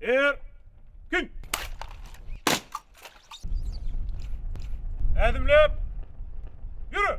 Er! Kün! Ädimläp! Ýöre!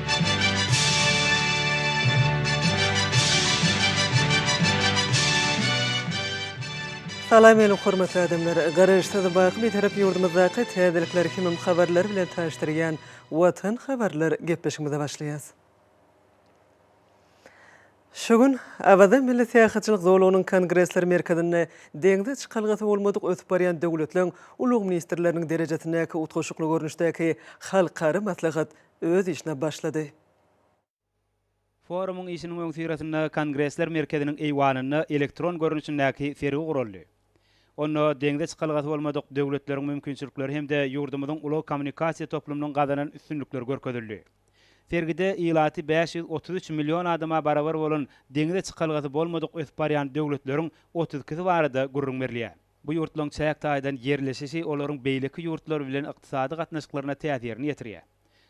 Salam ýalyk hormatly adamlar! Garaşsyz, baky Bitarap ýurdumyzdaky täzelikler hemem habarlar bilen tanyşdyrýan Watan habarlar gepleşigimize başlaýas. Şu gün Awaza milli syýahatçylyk zolagynyň Kongresler merkezinde Deňze çykalgasy bolmadyk ösüp barýan döwletleň ulag-ministrleriniň derejesindäki utgaşykly görnüşdäki halkara maslahat öz işine başlady. Forumyň işiniň öňüsyrasynda Kongresler merkeziniň eýwanynda elektron görnüşindäki sergi guraldy. Onda Deňze çykalgasy bolmadyk döwletleriň mümkinçilikleri hem-de ýurdumyzyň ulag-kommunikasiýa toplumynyň gazanan üstünlikleri görkezildi. Sergide ilaty bäş ýüz otuz üç million adama barabar bolan deňize çykalgasy bolmadyk ösüp barýan döwletleriň otuz ikisi barada gürrüň berilýär. Bu ýurtlaryň çäk taýdan ýerleşişi olaryň beýleki ýurtlar bilen ykdysady gatnaşyklaryna täsirini ýetirýär.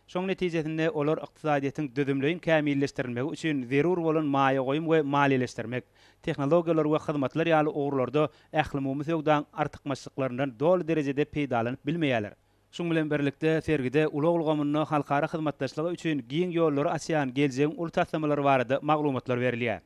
Şoň netijesinde olar ykdysadyýetiň düzümleýin kämilleşdirilmegi üçin zerur bolan maýa goýum we maliýeleşdirmek, tehnologiýalar we hyzmatlar ýaly ugurlarda ählumumy söwdaň artykmaçlyklaryndan doly derejede peýdalanyp bilmeýärler. Şunuň bilen birlikde, sergide ulag ulgamynda halkara hyzmatdaşlygy üçin giň ýollary açýan geljegiň uly taslamalary barada maglumatlar berilýär.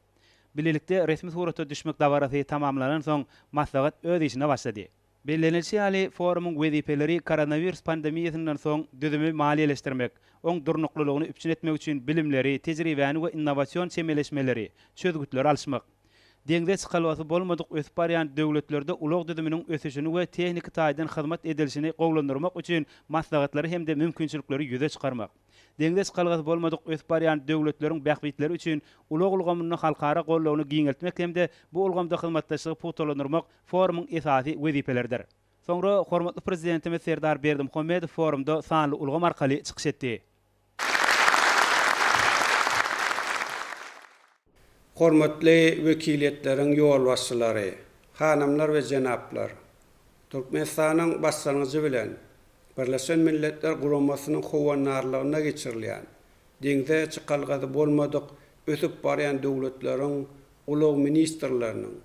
Bilelikde resmi surata düşmek dabarasy tamamlanansoň, maslahat öz işine başlady. Bellenilişi ýaly, forumyň wezipeleri koronawirus pandemiýasyndan soň düzümi maliýeleşdirmek, oň durnuklylygyny üpjün etmek üçin bilimleri, tejribäni we innowasion çemeleşmeleri, çözgütleri alyşmak, Deňze çykalgasy bolmadyk ösüp barýan döwletlerde ulag düzüminiň ösüşini we tehniki taýdan hyzmat edilişini gowulandyrmak üçin maslahatlary hem-de mümkinçilikleri ýüze çykarmak. Deňze çykalgasy bolmadyk ösüp barýan döwletleriň bähbitleri üçin ulag ulgamynda halkara goldawyny giňeltmek hem-de bu ulgamda hyzmatdaşlygy pugtalandyrmak forumyň esasy wezipeleridir. Soňra hormatly Prezidentimiz Serdar Berdimuhamedow forumda sanly ulgam arkaly çykyş etdi. Hormatly wekiliýetleriň ýolbaşçylary, hanymlar we jenaplar! Türkmenistanyň başlangyjy bilen Birleşen Milletler Guramasynyň howandarlygynda geçirilýän Deňze çykalgasy bolmadyk ösüp barýan döwletleriň ulag ministrleriniň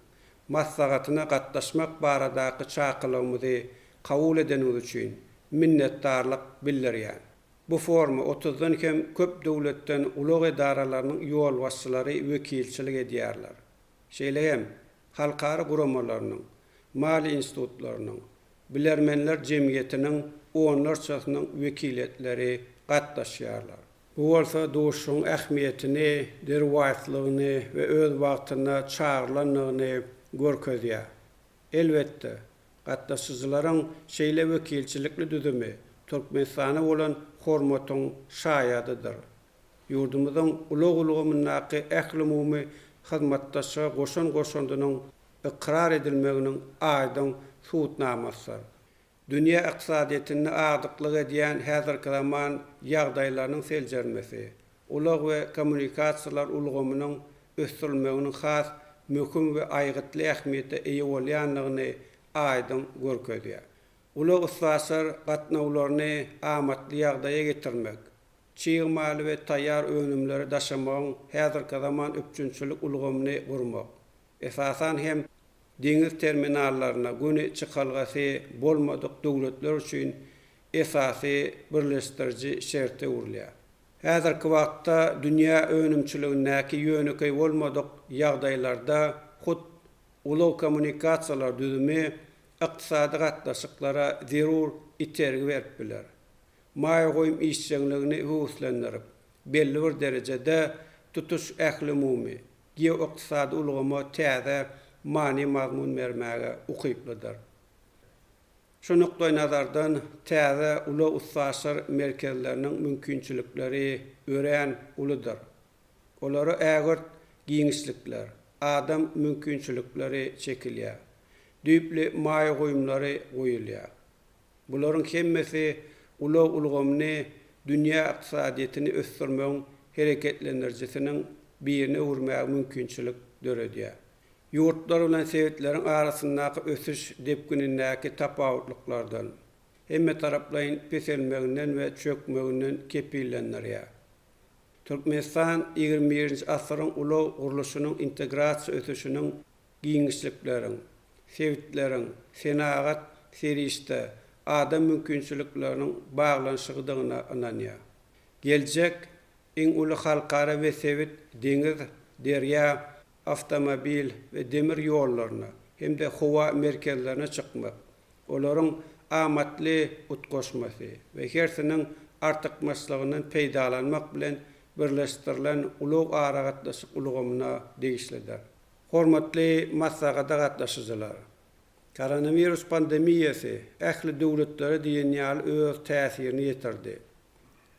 maslahatyna gatnaşmak baradaky çakylygymyzy kabul edeniňiz üçin minnetdarlyk bildirýän. Bu foruma otuzdan kem köp döwletden ulag edaralarynyň ýolbaşçylary wekilçilik edýärler. Şeýle hem halkara guramalarynyň, maliýe institutlarynyň, bilermenler jemgyýetiniň onlarçasynyň wekiliýetleri gatnaşýarlar. Bu bolsa duşuşygyň ähmiýetini, derwaýyslygyny we öz wagtynda çagyrylandygyny görkezýär. Elbetde, gatnaşyjylaryň şeýle wekilçilikli düzümi Türkmenistana bolan hormatyň şaýadydyr. Ýurdumyzyň ulag ulgamyndaky ählumumy hyzmatdaşlyga goşan goşandynyň ykrar edilmeginiň aýdyň subutnamasydyr. Dünýä ykdysadyýetinde agdyklyk edýän häzirki zaman ýagdaýlarynyň seljermesi, ulag we kommunikasiýalar ulgamynyň ösdürilmeginiň has möhüm we aýgytly ähmiýete eýe bolýandygyny aýdyň görkezýär. Ulag-üstaşyr gatnawlaryny amatly ýagdaýa getirmek, çig maly we taýýar önümleri daşamagyň häzirki zaman üpjünçilik ulgamyny gurmak, esasan hem, deňiz terminallaryna göni çykalgasy bolmadyk döwletler üçin esasy birleşdiriji şerte öwrülýär. Häzirki wagtda dünýä önümçiligindäki ýönekeý bolmadyk ýagdaýlarda hut ulag-kommunikasiýalar düzümi ykdysady gatnaşyklara zerur itergi berip biler. Maýa goýum işjeňligini höweslendirip, belli bir derejede tutuş ählumumy geoykdysady ulgama täze many-mazmun bermäge ukyplydyr. Şu nukdaýnazardan, täze ulag-üstaşyr merkezleriniň mümkinçilikleri örän uludyr. Olara ägirt giňişlikler, adam mümkinçilikleri çekilýär, düýpli maýa goýumlary goýulýar. Bularyň hemmesi ulag ulgamyny dünýä ykdysadyýetini ösdürmegiň hereketlendirijisiniň birine öwürmäge mümkinçilik döredýär. Ýurtlar bilen sebitleriň arasyndaky ösüş depginindäki tapawutlyklardan, hemmetaraplaýyn peselmeginden we çökmeginden kepillendirýär. Türkmenistan ýigrimi birinji asyryň ulag gurluşynyň integrasiýa ösüşiniň, giňişlikleriň, sebitleriň senagat serişde adam mümkinçilikleriniň baglanyşygydygyna ynanýar. Geljek iň uly halkara we sebit deňiz, derýa, awtomobil we demir ýollaryna hem-de howa merkezlerine çykmak, olaryň amatly utgaşmasy we hersiniň artykmaçlygyndan peýdalanmak bilen birleşdirilen ulag-aragatnaşyk ulgamyna degişlidir. Hormatly maslahata gatnaşyjylar! Koronawirus pandemiýasy ähli döwletlere diýen ýaly öz täsirini ýetirdi.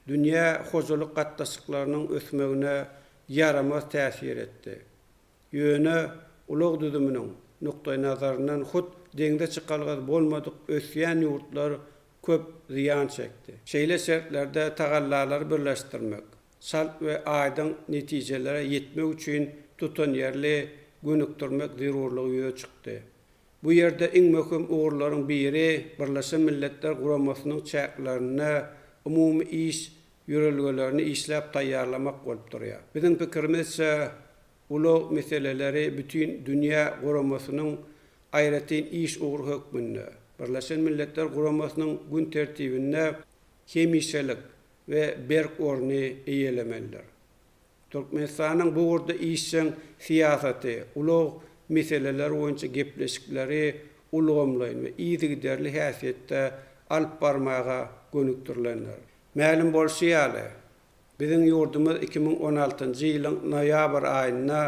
Dünýä hojalyk gatnaşyklarynyň ösmegine ýaramaz täsir etdi. Ýöne ulag düzüminiň nukdaýnazaryndan hut deňze çykalgasy bolmadyk ösýän ýurtlar köp zyýan çekdi. Şeýle şertlerde tagallalary birleşdirmek, çalt we aýdyň netijelere ýetmek üçin tutanýerli gönükdirmek zerurlygy ýüze çykdy. Bu ýerde iň möhüm ugurlaryň biri Birleşen Milletler Guramasynyň çäklerinde umumy iş ýörelgelerini işläp taýýarlamak bolup durýar. Biziň pikirimizçe, ulag meseleleri bütin dünýä guramasynyň aýratyn iş ugry hökmünde, Birleşen Milletler Guramasynyň gün tertibinde hemişelik we berk orny eýelemelidir. Türkmenistanyň bu ugurda işjeň syýasaty ulag meseleleri boýunça gepleşikleri ulgamlaýyn we yzygiderli häsiýetde alyp barmaga gönükdirilendir. Mälim bolşy ýaly, biziň ýurdumyz iki müň on altynjy ýylyň noýabr aýynda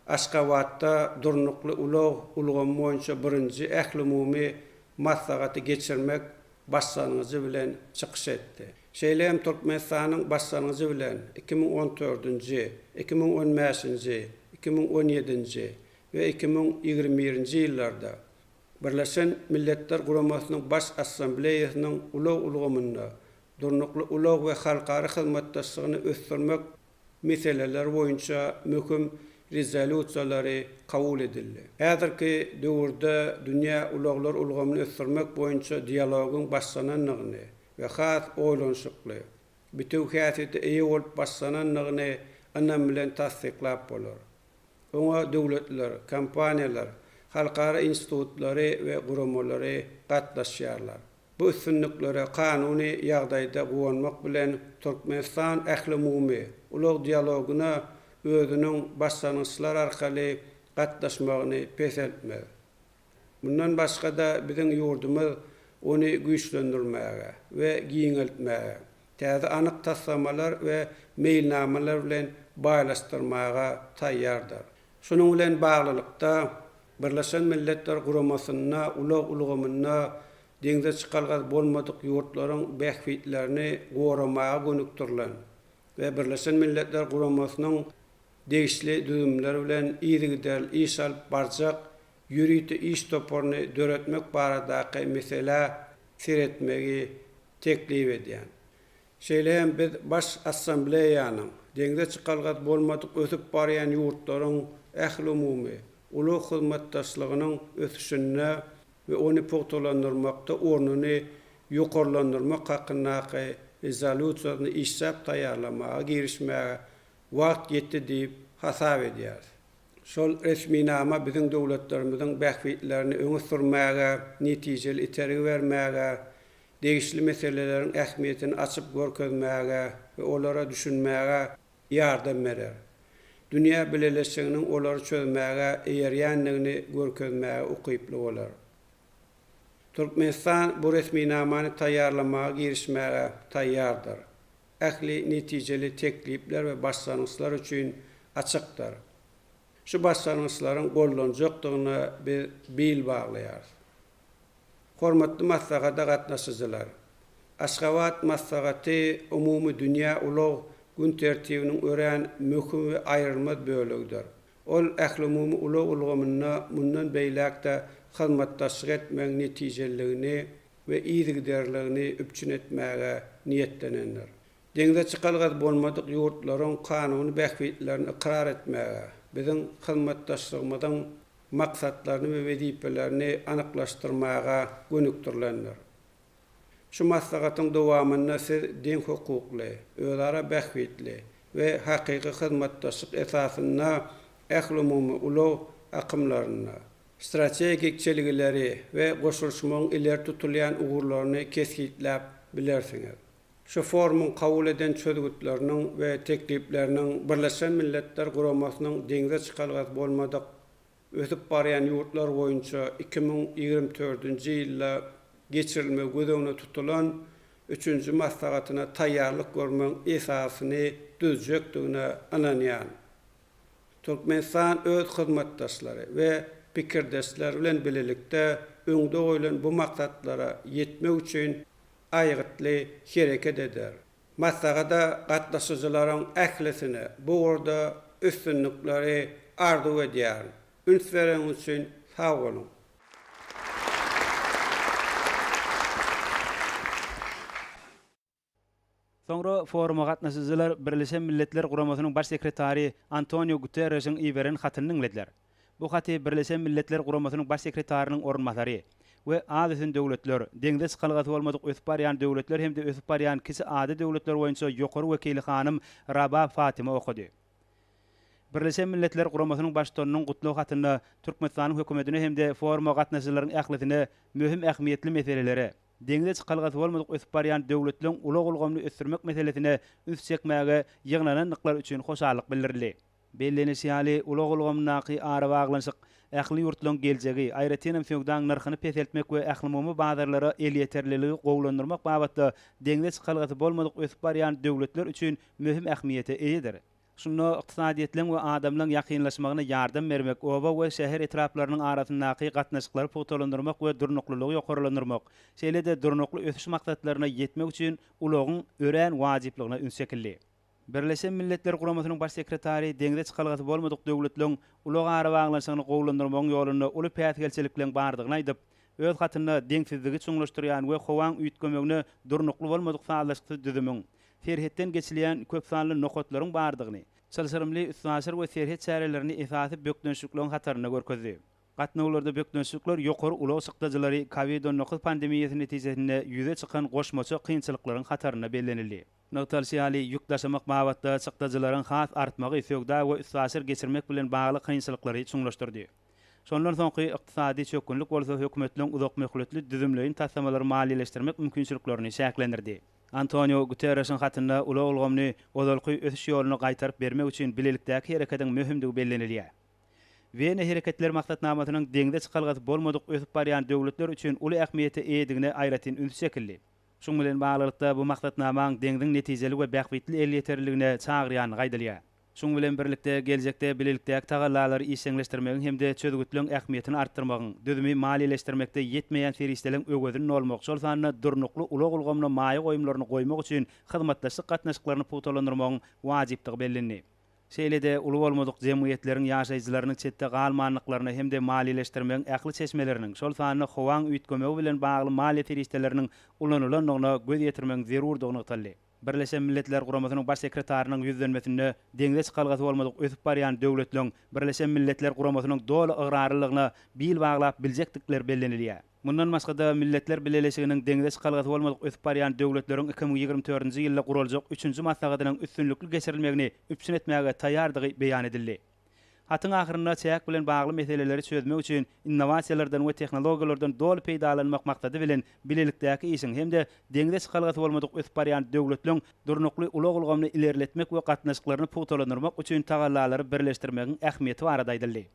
Aşgabatda Durnukly ulag ulgamy boýunça birinji ählumumy maslahaty geçirmek Başlangyjy bilen çykyş etdi. Şeýle hem Türkmenistanyň başlangyjy bilen iki müň on dördünji, iki müň on bäşinji, iki müň on ýedinji we iki müň ýigrimi birinji ýyllarda Birleşen Milletler Guramasynyň Baş Assambleýasynyň ulag ulgamynda durnukly ulag we halkara hyzmatdaşlygyny ösdürmek meseleler boýunça möhüm rezolýusiýalary kabul edildi. Häzirki döwürde dünýä ulaglar ulgamyny ösdürmek boýunça dialogyň başlanandygyny we has oýlanyşykly, bitewi häsiýete eýe bolup başlanandygyny ynam bilen tassyklap bolar. Oňa döwletler, kompaniýalar, halkara institutlary we guramalary gatnaşýarlar. Bu üstünliklere kanuny ýagdaýda guwanmak bilen, Türkmenistan ählumumy ulag dialogyna özüniň başlangyçlar arkaly gatnaşmagyny peseltmez. Mundan başga-da, biziň ýurdumyz ony güýçlendirmäge we giňeltmäge, täze anyk taslamalar we meýilnamalar bilen baýlaşdyrmaga taýýardyr. Şunuň bilen baglylykda, Birleşen Milletler Guramasynda ulag ulgamynda deňze çykalgasy bolmadyk ýurtlaryň bähbitlerini goramaga gönükdirilen we Birleşen Milletler Guramasynyň degişli düzümleri bilen yzygiderli iş alyp barjak ýörite iş toparyny döretmek baradaky meselä seretmegi teklip edýän Şeýle hem biz Baş Assambleýanyň Deňze çykalgasy bolmadyk ösüp barýan ýurtlaryň ählumumy ulag hyzmatdaşlygynyň ösüşinde we ony pugtalandyrmakda ornuny ýokarlandyrmak hakyndaky Rezolýusiýasyny işläp taýýarlamaga girişmäge wagt ýetdi diýip hasap edýäris. Şol resminama biziň döwletlerimiziň bähbitlerini öňe sürmäge, netijeli itergi bermäge, degişli meseleleriň ähmiýetini açyp görkezmäge we olara düşünmäge ýardam berer. Dünýä bileleşiginiň olary çözmäge eýerýändigini görkezmäge ukyply bolar. Türkmenistan bu resminamany taýýarlamaga girişmäge taýýardyr. Ähli netijeli teklipler we başlangyçlar üçin açykdyr. Şu başlangyçlaryň gollanjakdygyna biz bil baglaýarys. Hormatly maslahata gatnaşyjylar! Aşgabat maslahaty umumy dünýä ulag gün tertibiniň örän möhüm we aýrylmaz bölegidir. Ol ählumumy ulag ulgamynda mundan beýläk-de hyzmatdaşlyk etmegiň netijeliligini we yzygiderligini üpjün etmäge niýetlenendir. Deňze çykalgasy bolmadyk ýurtlaryň kanuny bähbitlerini ykrar etmäge, biziň hyzmatdaşlygymyzyň, maksatlaryny we wezipelerini anyklaşdyrmaga gönükdirilendir. Şu maslahatyň dowamynda siz deňhukukly, özara bähbitli we hakyky hyzmatdaşlyk esasynda ählumumy ulag akymlarynda, strategik çelgileri we goşulyşmagyň ileri tutulýan ugurlaryny kesgitläp bilersiňiz. Şu forumyň kabul eden çözgütleriniň we teklipleriniň Birleşen Milletler Guramasynyň deňze çykalgasy bolmadyk ösüp barýan ýurtlar boýunça iki müň ýigrimi dördünji ýylda geçirilmegi göz öňünde tutulan üçünji maslahatyna taýýarlyk görmegiň esasyny düzjekdigine ynanýan Türkmenistan öz hyzmatdaşlary we pikirdeşleri bilen bilelikde öňde goýlan bu maksatlara ýetmek üçin aýgytly hereket eder. Maslahata gatnaşyjylaryň ählisine bu ugurda üstünlikleri arzuw edýärin. Üns bereňiz üçin sag boluň! Soňra foruma gatnaşyjylar Birleşen Milletler Guramasynyň Baş sekretary Antonio Guterreşiň iberen hatyny diňlediler. Bu haty Birleşen Milletler Guramasynyň Baş sekretarynyň orunbasary we az ösen döwletler, deňze çykalgasy bolmadyk ösüp barýan döwletler hem-de ösüp barýan kiçi ada döwletler boýunça ýokary wekili hanym Rabah Fatima okady. Birleşen Milletler Guramasynyň Baştutanynyň gutlag hatynda Türkmenistanyň Hökümetine hem-de foruma gatnaşyjylaryň ählisine möhüm ähmiýetli meselelere, deňze çykalgasy bolmadyk ösüp barýan döwletleriň ulag ulgamyny ösdürmek meselesine üns çekmäge ýygnanandyklar üçin hoşallyk bildirildi. Bellenişi ýaly, ulag ulgamyndaky arabaglanyşyk ähli ýurtlaryň geljegi, aýratyn hem söwdaň nyrhyny peseltmek we ählumumy bazarlara elýeterliligi gowulandyrmak babatda deňze çykalgasy bolmadyk ösüp barýan döwletler üçin möhüm ähmiýete eýedir. Şunda ykdysadyýetleň we adamlaryň ýakynlaşmagyna ýardam bermek, oba we şäher etraplarynyň arasyndaky gatnaşyklary pugtalandyrmak we durnuklylygy ýokarlandyrmak, şeýle-de Durnukly ösüş maksatlaryna ýetmek üçin ulagyň örän wajyplygyna üns çekildi. Birleşen Milletler Guramasynyň Baş sekretary deňze çykalgasy bolmadyk döwletleriň ulag arabaglanyşygyny gowulandyrmagyň ýolunda uly päsgelçilikleriň bardygyny aýdyp, öz hatynda deňsizligi çuňlaşdyrýan we howaň üýtgemegine durnukly bolmadyk sazlaşyksyz düzümiň, serhetden geçilýän köpsanly nokatlaryň bardygyny, çylşyrymly üstaşyr we serhet çärelerini esasy bökdençlikligiň hatarynda görkezdi. Gatnawlarda bökdençlikler ýokary ulag çykdajylary Covid on dokuz pandemiýasy netijesinde ýüze çykan goşmaça kynçylyklaryň hatarynda bellenildi. Nygtalyşy ýaly, ýük daşamak babatda çykdajylaryň has artmagy söwda we üstaşyr geçirmek bilen bagly kynçylyklary çuňlaşdyrdy. Şondan soňky ykdysady çökgünlik bolsa hökümetleň uzakmöhletli düzümleýin taslamalary maliýeleşdirmek mümkinçiliklerini çäklendirdi. Antoniu Guterreşiň hatynda ulag ulgamyny ozalky ösüş ýoluna gaýtaryp bermek üçin bilelikdäki hereketiň möhümdigi bellenilýär. Wena hereketler maksatnamasynyň deňze çykalgasy bolmadyk ösüp barýan döwletler üçin uly ähmiýete eýedigine aýratyn üns çekildi. Şuň bilen baglylykda, bu maksatnamaň deňziň netijeli we bähbitli elýeterliligine çagyrýandygy aýdylýar. Şunuň bilen birlikde, geljekde bilelikdäki tagallalary işjeňleşdirmegiň hem-de çözgütleň ähmiýetini artdyrmagyň, düzümi maliýeleşdirmekde ýetmeýän serişdeleň öwezini dolmak, şol sanda durnukly ulag ulgamyna maýa goýumlaryny goýmak üçin hyzmatdaşlyk gatnaşyklaryny pugtalandyrmagyň wajypdygy bellendi. Şeýle-de, uly bolmadyk jemgyýetleriň ýaşaýjylarynyň çetde galmandyklaryna hem-de maliýeleşdirmegiň ähli çeşmeleriniň, şol sanda howaň üýtgemegi bilen bagly maliýe serişdeleriniň ulanylandygyna göz ýetirmegiň zerurdygy nygtaldy. Birleşen Milletler Guramasynyň Baş sekretarynyň ýüzlenmesinde deňze çykalgasy bolmadyk ösüp barýan döwletleriň Birleşen Milletler Guramasynyň doly ygrarlylygyna bil baglap biljekdikleri bellenilýär. Mundan başga-da, Milletler Bileleşiginiň deňze çykalgasy bolmadyk ösüp barýan döwletleriň iki müň ýigrimi dördünji ýylda guraljak üçünji maslahatynyň üstünlikli geçirilmegini üpjün etmäge taýýardygy beýan edildi. Hatyň ahyrynda çäk bilen bagly meseleleri çözmek üçin innowasiýalardan we tehnologiýalardan doly peýdalanmak maksady bilen bilelikdäki işiň hem-de deňze çykalgasy bolmadyk ösüp barýan döwletleriň durnukly ulag ulgamyny ilerletmek we gatnaşyklaryny pugtalandyrmak üçin tagallalary birleşdirmegiň ähmiýeti barada aýdyldy.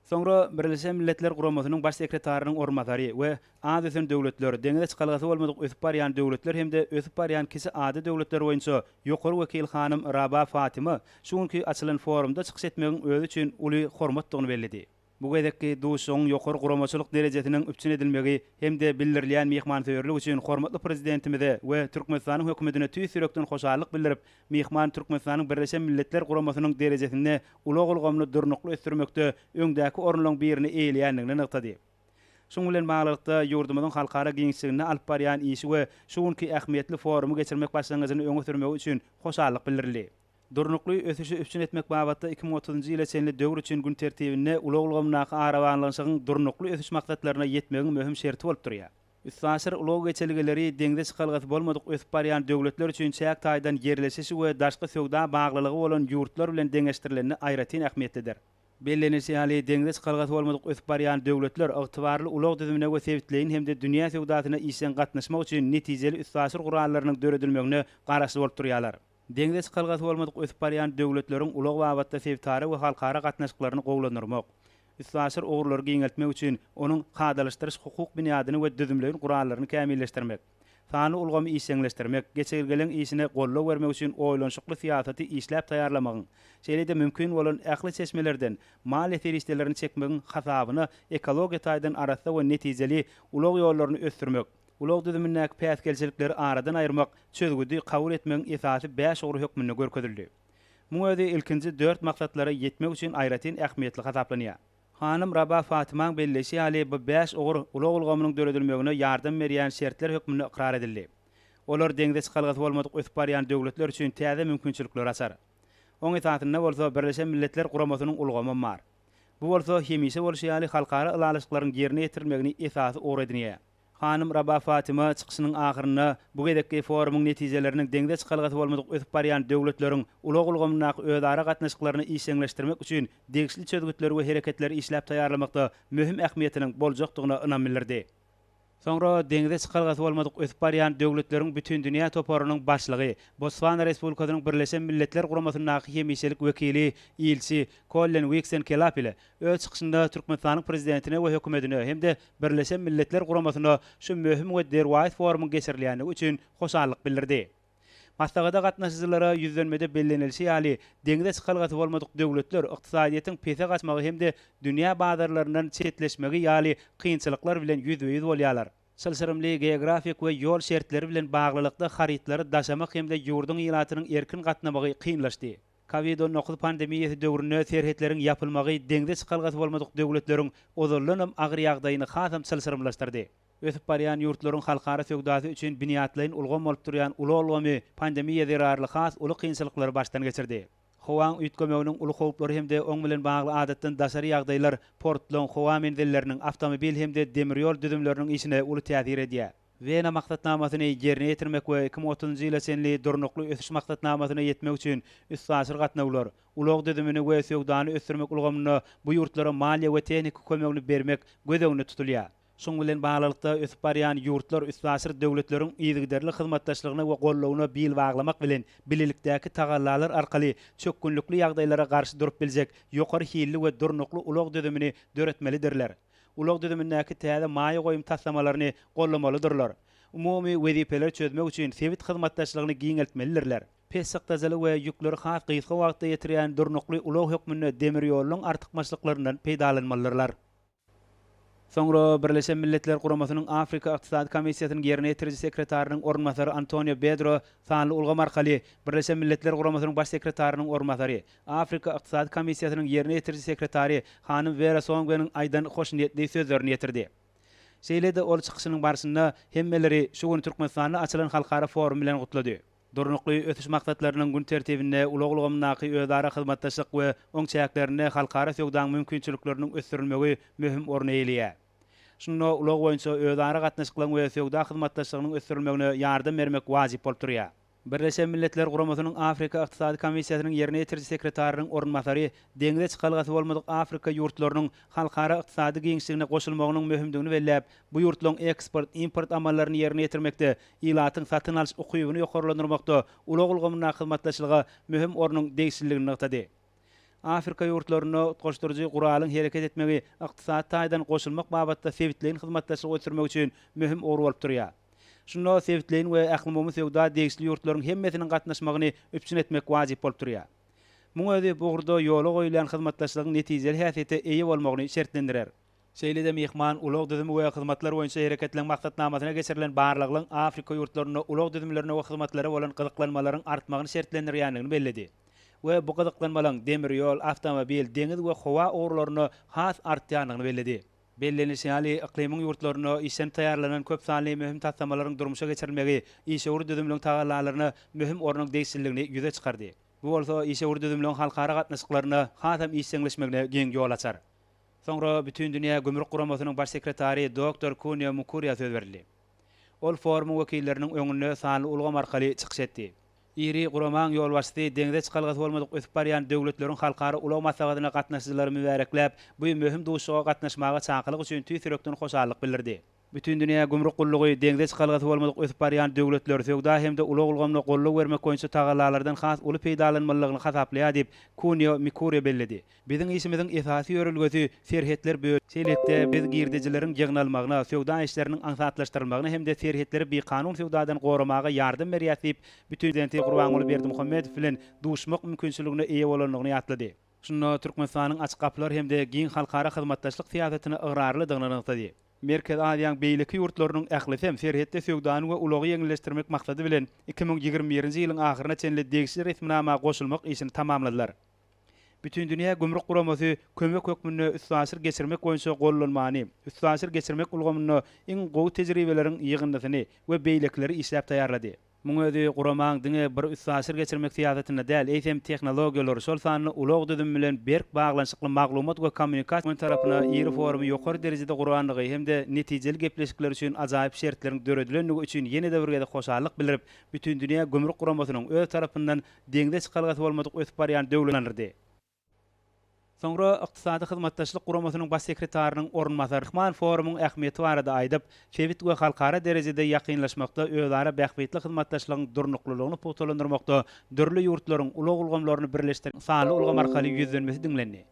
Soňra Birleşen Milletler Guramasynyň Baş sekretarynyň orunbasary we az ösen döwletler, deňize çykalgasy bolmadyk ösüp barýan döwletler hem-de ösüp barýan kiçi ady döwletler boýunça ýokary wekil hanym Raba Fatima şu günki açylan forumda çykyş etmegiň özi üçin uly hormatdygyny belledi. Bu gezekki duşuşygyň ýokary guramaçylyk derejesiniň üpjün edilmegi hem-de bildirilýän myhmansöýerlik üçin hormatly Prezidentimize we Türkmenistanyň Hökümetine tüýs ýürekden hoşallyk bildirip, myhman Türkmenistanyň Birleşen Milletler Guramasynyň derejesinde ulag ulgamyny durnukly ösdürmekde öňdäki orunlaryň birini eýeleýändigini nygtady. Şunuň bilen baglylykda, ýurdumyzyň halkara giňişliginde alyp barýan işi we şu günki ähmiýetli forumy geçirmek başlangyjyny öňe sürmegi üçin hoşallyk bildirildi. Durnukly ösüşi üpjün etmek babatda iki müň otuzynjy ýyla çenli döwür üçin gün tertibinde ulag ulgamyndaky arabaglanyşygyň durnukly ösüş maksatlaryna ýetmegiň möhüm şerti bolup durýar. Üstaşyr ulag geçelgeleri deňze çykalgasy bolmadyk ösüp barýan döwletler üçin çäk taýdan ýerleşişi we daşky söwda baglylygy bolan ýurtlar bilen deňeşdirilende aýratyn ähmiýetlidir. Bellenilişi ýaly, deňze çykalgasy bolmadyk ösüp barýan döwletler ygtybarly ulag düzümine we sebitleýin hem-de dünýä söwdasyna işjeň gatnaşmak üçin netijeli üstaşyr gurallarynyň döredilmegine garaşly bolup durýarlar. Deňze çykalgasy bolmadyk ösüp barýan döwletleriň ulag babatda sebitara we halkara gatnaşyklaryny gowulandyrmak, üstaşyr ugurlary giňeltmek üçin onuň kadalaşdyryş-hukuk binýadyny we düzümleýin gurallaryny kämilleşdirmek, sanly ulgamy işjeňleşdirmek, geçelgeleň işine goldaw bermek üçin oýlanyşykly syýasaty işläp taýýarlamagyň, şeýle-de mümkin bolan ähli çeşmelerden maliýe serişdelerini çekmegiň hasabyna ekologiýa taýdan arassa we netijeli ulag ýollaryny ösdürmek, ulag düzümindäki päsgelçilikleri aradan aýyrmak çözgüdi kabul etmegiň esasy bäş ugry hökmünde görkezildi. Muň özi ilkinji dört maksatlara ýetmek üçin aýratyn ähmiýetli hasaplanýar. Hanym Raba Fatymaň belleýşi ýaly, bu bäş ugur ulag ulgamynyň döredilmegine ýardam berýän şertler hökmünde ykrar edildi. Olar deňze çykalgasy bolmadyk ösüp barýan döwletler üçin täze mümkinçilikleri açar. Oň esasynda bolsa Birleşen Milletler Guramasynyň ulgamam bar. Bu bolsa hemişe bolşy ýaly halkara ylalaşyklaryň ýerine ýetirilmegini esasy ugur edinýär. Hanym Raba Fatima çykyşynyň ahyrynda bu gezekki forumyň netijeleriniň deňze çykalgasy bolmadyk ösüp barýan döwletleriň ulag ulgamyndaky özara gatnaşyklaryny işjeňleşdirmek üçin degişli çözgütleri we hereketleri işläp taýýarlamakda möhüm ähmiýetiniň boljakdygyna ynam bildirdi. Soňra deňze çykalgasy bolmadyk ösüp barýan döwletleriň bütindünýä toparynyň başlygy, Botswana Respublikasynyň Birleşen Milletler Guramasyndaky hemişelik wekili, ilçi, Kollen Wiksen Kelap ile Öz çykyşynda Türkmenistanyň Prezidentine we Hökümetine hem-de Birleşen Milletler Guramasyna şu möhüm we derwaýys forumyň geçirilýändigi üçin hoşallyk bildirdi. Maslahata gatnaşyjylara ýüzlenmede bellenilişi ýaly, deňze çykalgasy bolmadyk döwletler ykdysadyýetiň pese gaçmagy hem-de dünýä bazarlaryndan çetleşmegi ýaly kynçylyklar bilen ýüzbe-ýüz bolýarlar. Çylşyrymly geografik we ýol şertleri bilen baglylykda harytlary daşamak hem-de ýurduň ilatynyň erkin gatnamagy kynlaşdy. Covid on dokuz pandemiýasy döwründe serhetleriň ýapylmagy deňze çykalgasy bolmadyk döwletleriň ozaldanam agyr ýagdaýyny hasam çylşyrymlaşdyrdy. Ösüp barýan ýurtlaryň halkara söwdasy üçin binýatlaýyn ulgam bolup durýan ulag ulgamy pandemiýa zerarly has uly kynçylyklary başdan geçirdi. Howaň üýtgemeginiň uly howplary hem-de oň bilen bagly adatdan daşary ýagdaýlar portlaryň, howa menzilleriniň, awtomobil hem-de demir ýol düzümleriniň işine uly täsir edýär. Wena maksatnamasyny ýerine ýetirmek we iki müň otuzynjy ýyla çenli Durnukly ösüş maksatnamasyna ýetmek üçin üstaşyr gatnawlar, ulag düzümini we söwdany ösdürmek ulgamynda bu ýurtlara maliýe we tehniki kömegini bermek göz öňünde tutulýar. Şunuň bilen baglylykda, ösüp barýan ýurtlar üstaşyr döwletleriň yzygiderli hyzmatdaşlygyna we goldawyna bil baglamak bilen, bilelikdäki tagallalar arkaly çökgünlikli ýagdaýlara garşy durup biljek ýokary hilli we durnukly ulag düzümini döretmelidirler. ulag düzümindäki täze maýa goýum taslamalaryny goldamalydyrlar, umumy wezipeleri çözmek üçin sebit hyzmatdaşlygyny giňeltmelidirler. Pessykdajaly we ýükleri has gysga wagtda ýetirýän durnukly ulag hökmünde demir ýollaryň artykmaçlyklaryndan peýdalanmalydyrlar. Soňra Birleşen Milletler Guramasynyň Afrika Ykdysady Komissiýasynyň ýerine ýetiriji sekretarynyň orunbasary Antonio Bedro sanly ulgam arkaly Birleşen Milletler Guramasynyň Baş sekretarynyň orunbasary, Afrika Ykdysady Komissiýasynyň Ýerine ýetiriji sekretary hanym Wera Songweniň aýdan hoşniýetli sözlerini ýetirdi. Şeýle-de ol çykyşynyň barşynda hemmeleri şu gün Türkmenistanda açylan halkara forum bilen gutlady. Durnukly ösüş maksatlarynyň gün tertibinde ulag ulgamyndaky özara hyzmatdaşlyk we oň çäklerinde halkara söwdaň mümkinçilikleriniň ösdürilmegi möhüm orny eýeleýär. Şunda ulag boýunça özara gatnaşyklaryň we söwda hyzmatdaşlygynyň ösdürilmegine ýardam bermek wajyp bolup durýar. Birleşen Milletler Guramasynyň Afrika Ykdysady Komissiýasynyň ýerine ýetiriji sekretarynyň orunbasary deňze çykalgasy bolmadyk Afrika ýurtlarynyň halkara ykdysady giňişligine goşulmagynyň möhümdigini belläp, bu ýurtlaryň eksport, import amallaryny ýerine ýetirmekde, ilatyň satyn alyş ukybyny ýokarlandyrmakda ulag ulgamyndaky hyzmatdaşlyga möhüm ornuň degişliligini nygtady. Afrika ýurtlarynda utgaşdyryjy guralyň hereket etmegi ykdysady taýdan goşulmak babatda sebitleýin hyzmatdaşlygy ösdürmek üçin möhüm ugur bolup durýar. Şunda sebitleýin we ählumumy söwda degişli ýurtlaryň hemmesiniň gatnaşmagyny üpjün etmek wajyp bolup durýar. Muň özi bu ugurda ýola goýulýan hyzmatdaşlygyň netijeli häsiýete eýe bolmagyny şertlendirer. Şeýle-de myhman ulag düzümi we hyzmatlar boýunça hereketleriň maksatnamasyna geçirilen barlaglaryň Afrika ýurtlarynda ulag düzümlerine we hyzmatlara bolan gyzyklanmalaryň artmagyny şertlendirýändigini belledi we bu gyzyklanmalaryň demir ýol, awtomobil, deňiz we howa ugurlarynda has artýandygyny belledi. Bellenilişi ýaly, yklymyň ýurtlarynda işlenip taýýarlanan köp sanly möhüm taslamalaryň durmuşa geçirilmegi işewür düzümligiň tagallalaryna möhüm ornuň degişliligini ýüze çykardy. Bu bolsa işewür düzümligiň halkara gatnaşyklarynda hasam işjeňleşmegine giň ýol açar. Soňra Bütindünýä gümrük guramasynyň baş sekretary doktor Kunio Mukuria söz berildi. Ol forumyň wekilleriniň öňünde sanly ulgam arkaly çykyş etdi. Iri guramaň ýolbaşçysy deňze çykalgasy bolmadyk ösüp barýan döwletleriň halkara ulag maslahatyna gatnaşyjylary mübärekläp, bu möhüm duşuşyga gatnaşmaga çakylyk üçin tüýs ýürekden hoşallyk bildirdi. Bütindünýä gümrük gullugy deňze çykalgasy bolmadyk ösüp barýan döwletler söwda hem-de ulag ulgamyna goldaw bermek boýunça tagallalardan has uly peýdalanmalydygyny hasaplaýar diýip, Kunio Mikure belledi. Biziň işimiziň esasy ýörelgesi serhetler bö. Şeýlelikde, biz girdejileriň ýygnalmagyna, söwda işleriniň aňsatlaşdyrylmagyna hem-de serhetleri bikanun söwdadan goramaga ýardam berýäs diýip, Prezidenti Gurbanguly Berdimuhamedow bilen duşmak mümkinçiligine eýe bolandygyny ýatlady. Şunda Türkmenistanyň açyk gapylar hem-de giň halkara hyzmatdaşlyk syýasatyna ygrarlydygyny nygtady. Merkezi Aziýaň beýleki ýurtlarynyň ählisem serhetde söwdany we ulagy ýeňilleşdirmek maksady bilen, iki müň ýigrimi birinji ýylyň ahyryna çenli degişli resminama goşulmak işini tamamladylar. Bütindünýä gümrük guramasy kömek hökmünde üstaşyr geçirmek boýunça gollanmany, üstaşyr geçirmek ulgamynda iň gowy tejribeleriň ýygyndysyny we beýlekileri işläp taýýarlady. Muň özi guramaň diňe bir üstaşyr geçirmek syýasatynda däl, eýsem tehnologiýalar, şol sanda ulag düzümi bilen berk baglanyşykly maglumat we kommunikasiýa ulgamlary tarapyna iri forumy ýokary derejede gurandygy hem-de netijeli gepleşikler üçin ajaýyp şertleriň döredilendigi üçin ýene-de bir gezek hoşallyk bildirip, Bütindünýä gümrük guramasynyň öz tarapyndan deňze çykalgasy bolmadyk ösüp barýan döwletini ynandyrdy. Soňra Ykdysady Hyzmatdaşlyk Guramasynyň Baş sekretarynyň orunbasary Rahman forumyň ähmiýeti barada aýdyp, sebit we halkara derejede ýakynlaşmakda özara bähbitli hyzmatdaşlygyň durnuklylygyny pugtalandyrmakda dürli ýurtlaryň ulag ulgamlaryny birleşdirýän sanly ulgam arkaly ýüzlenmesi diňlendi.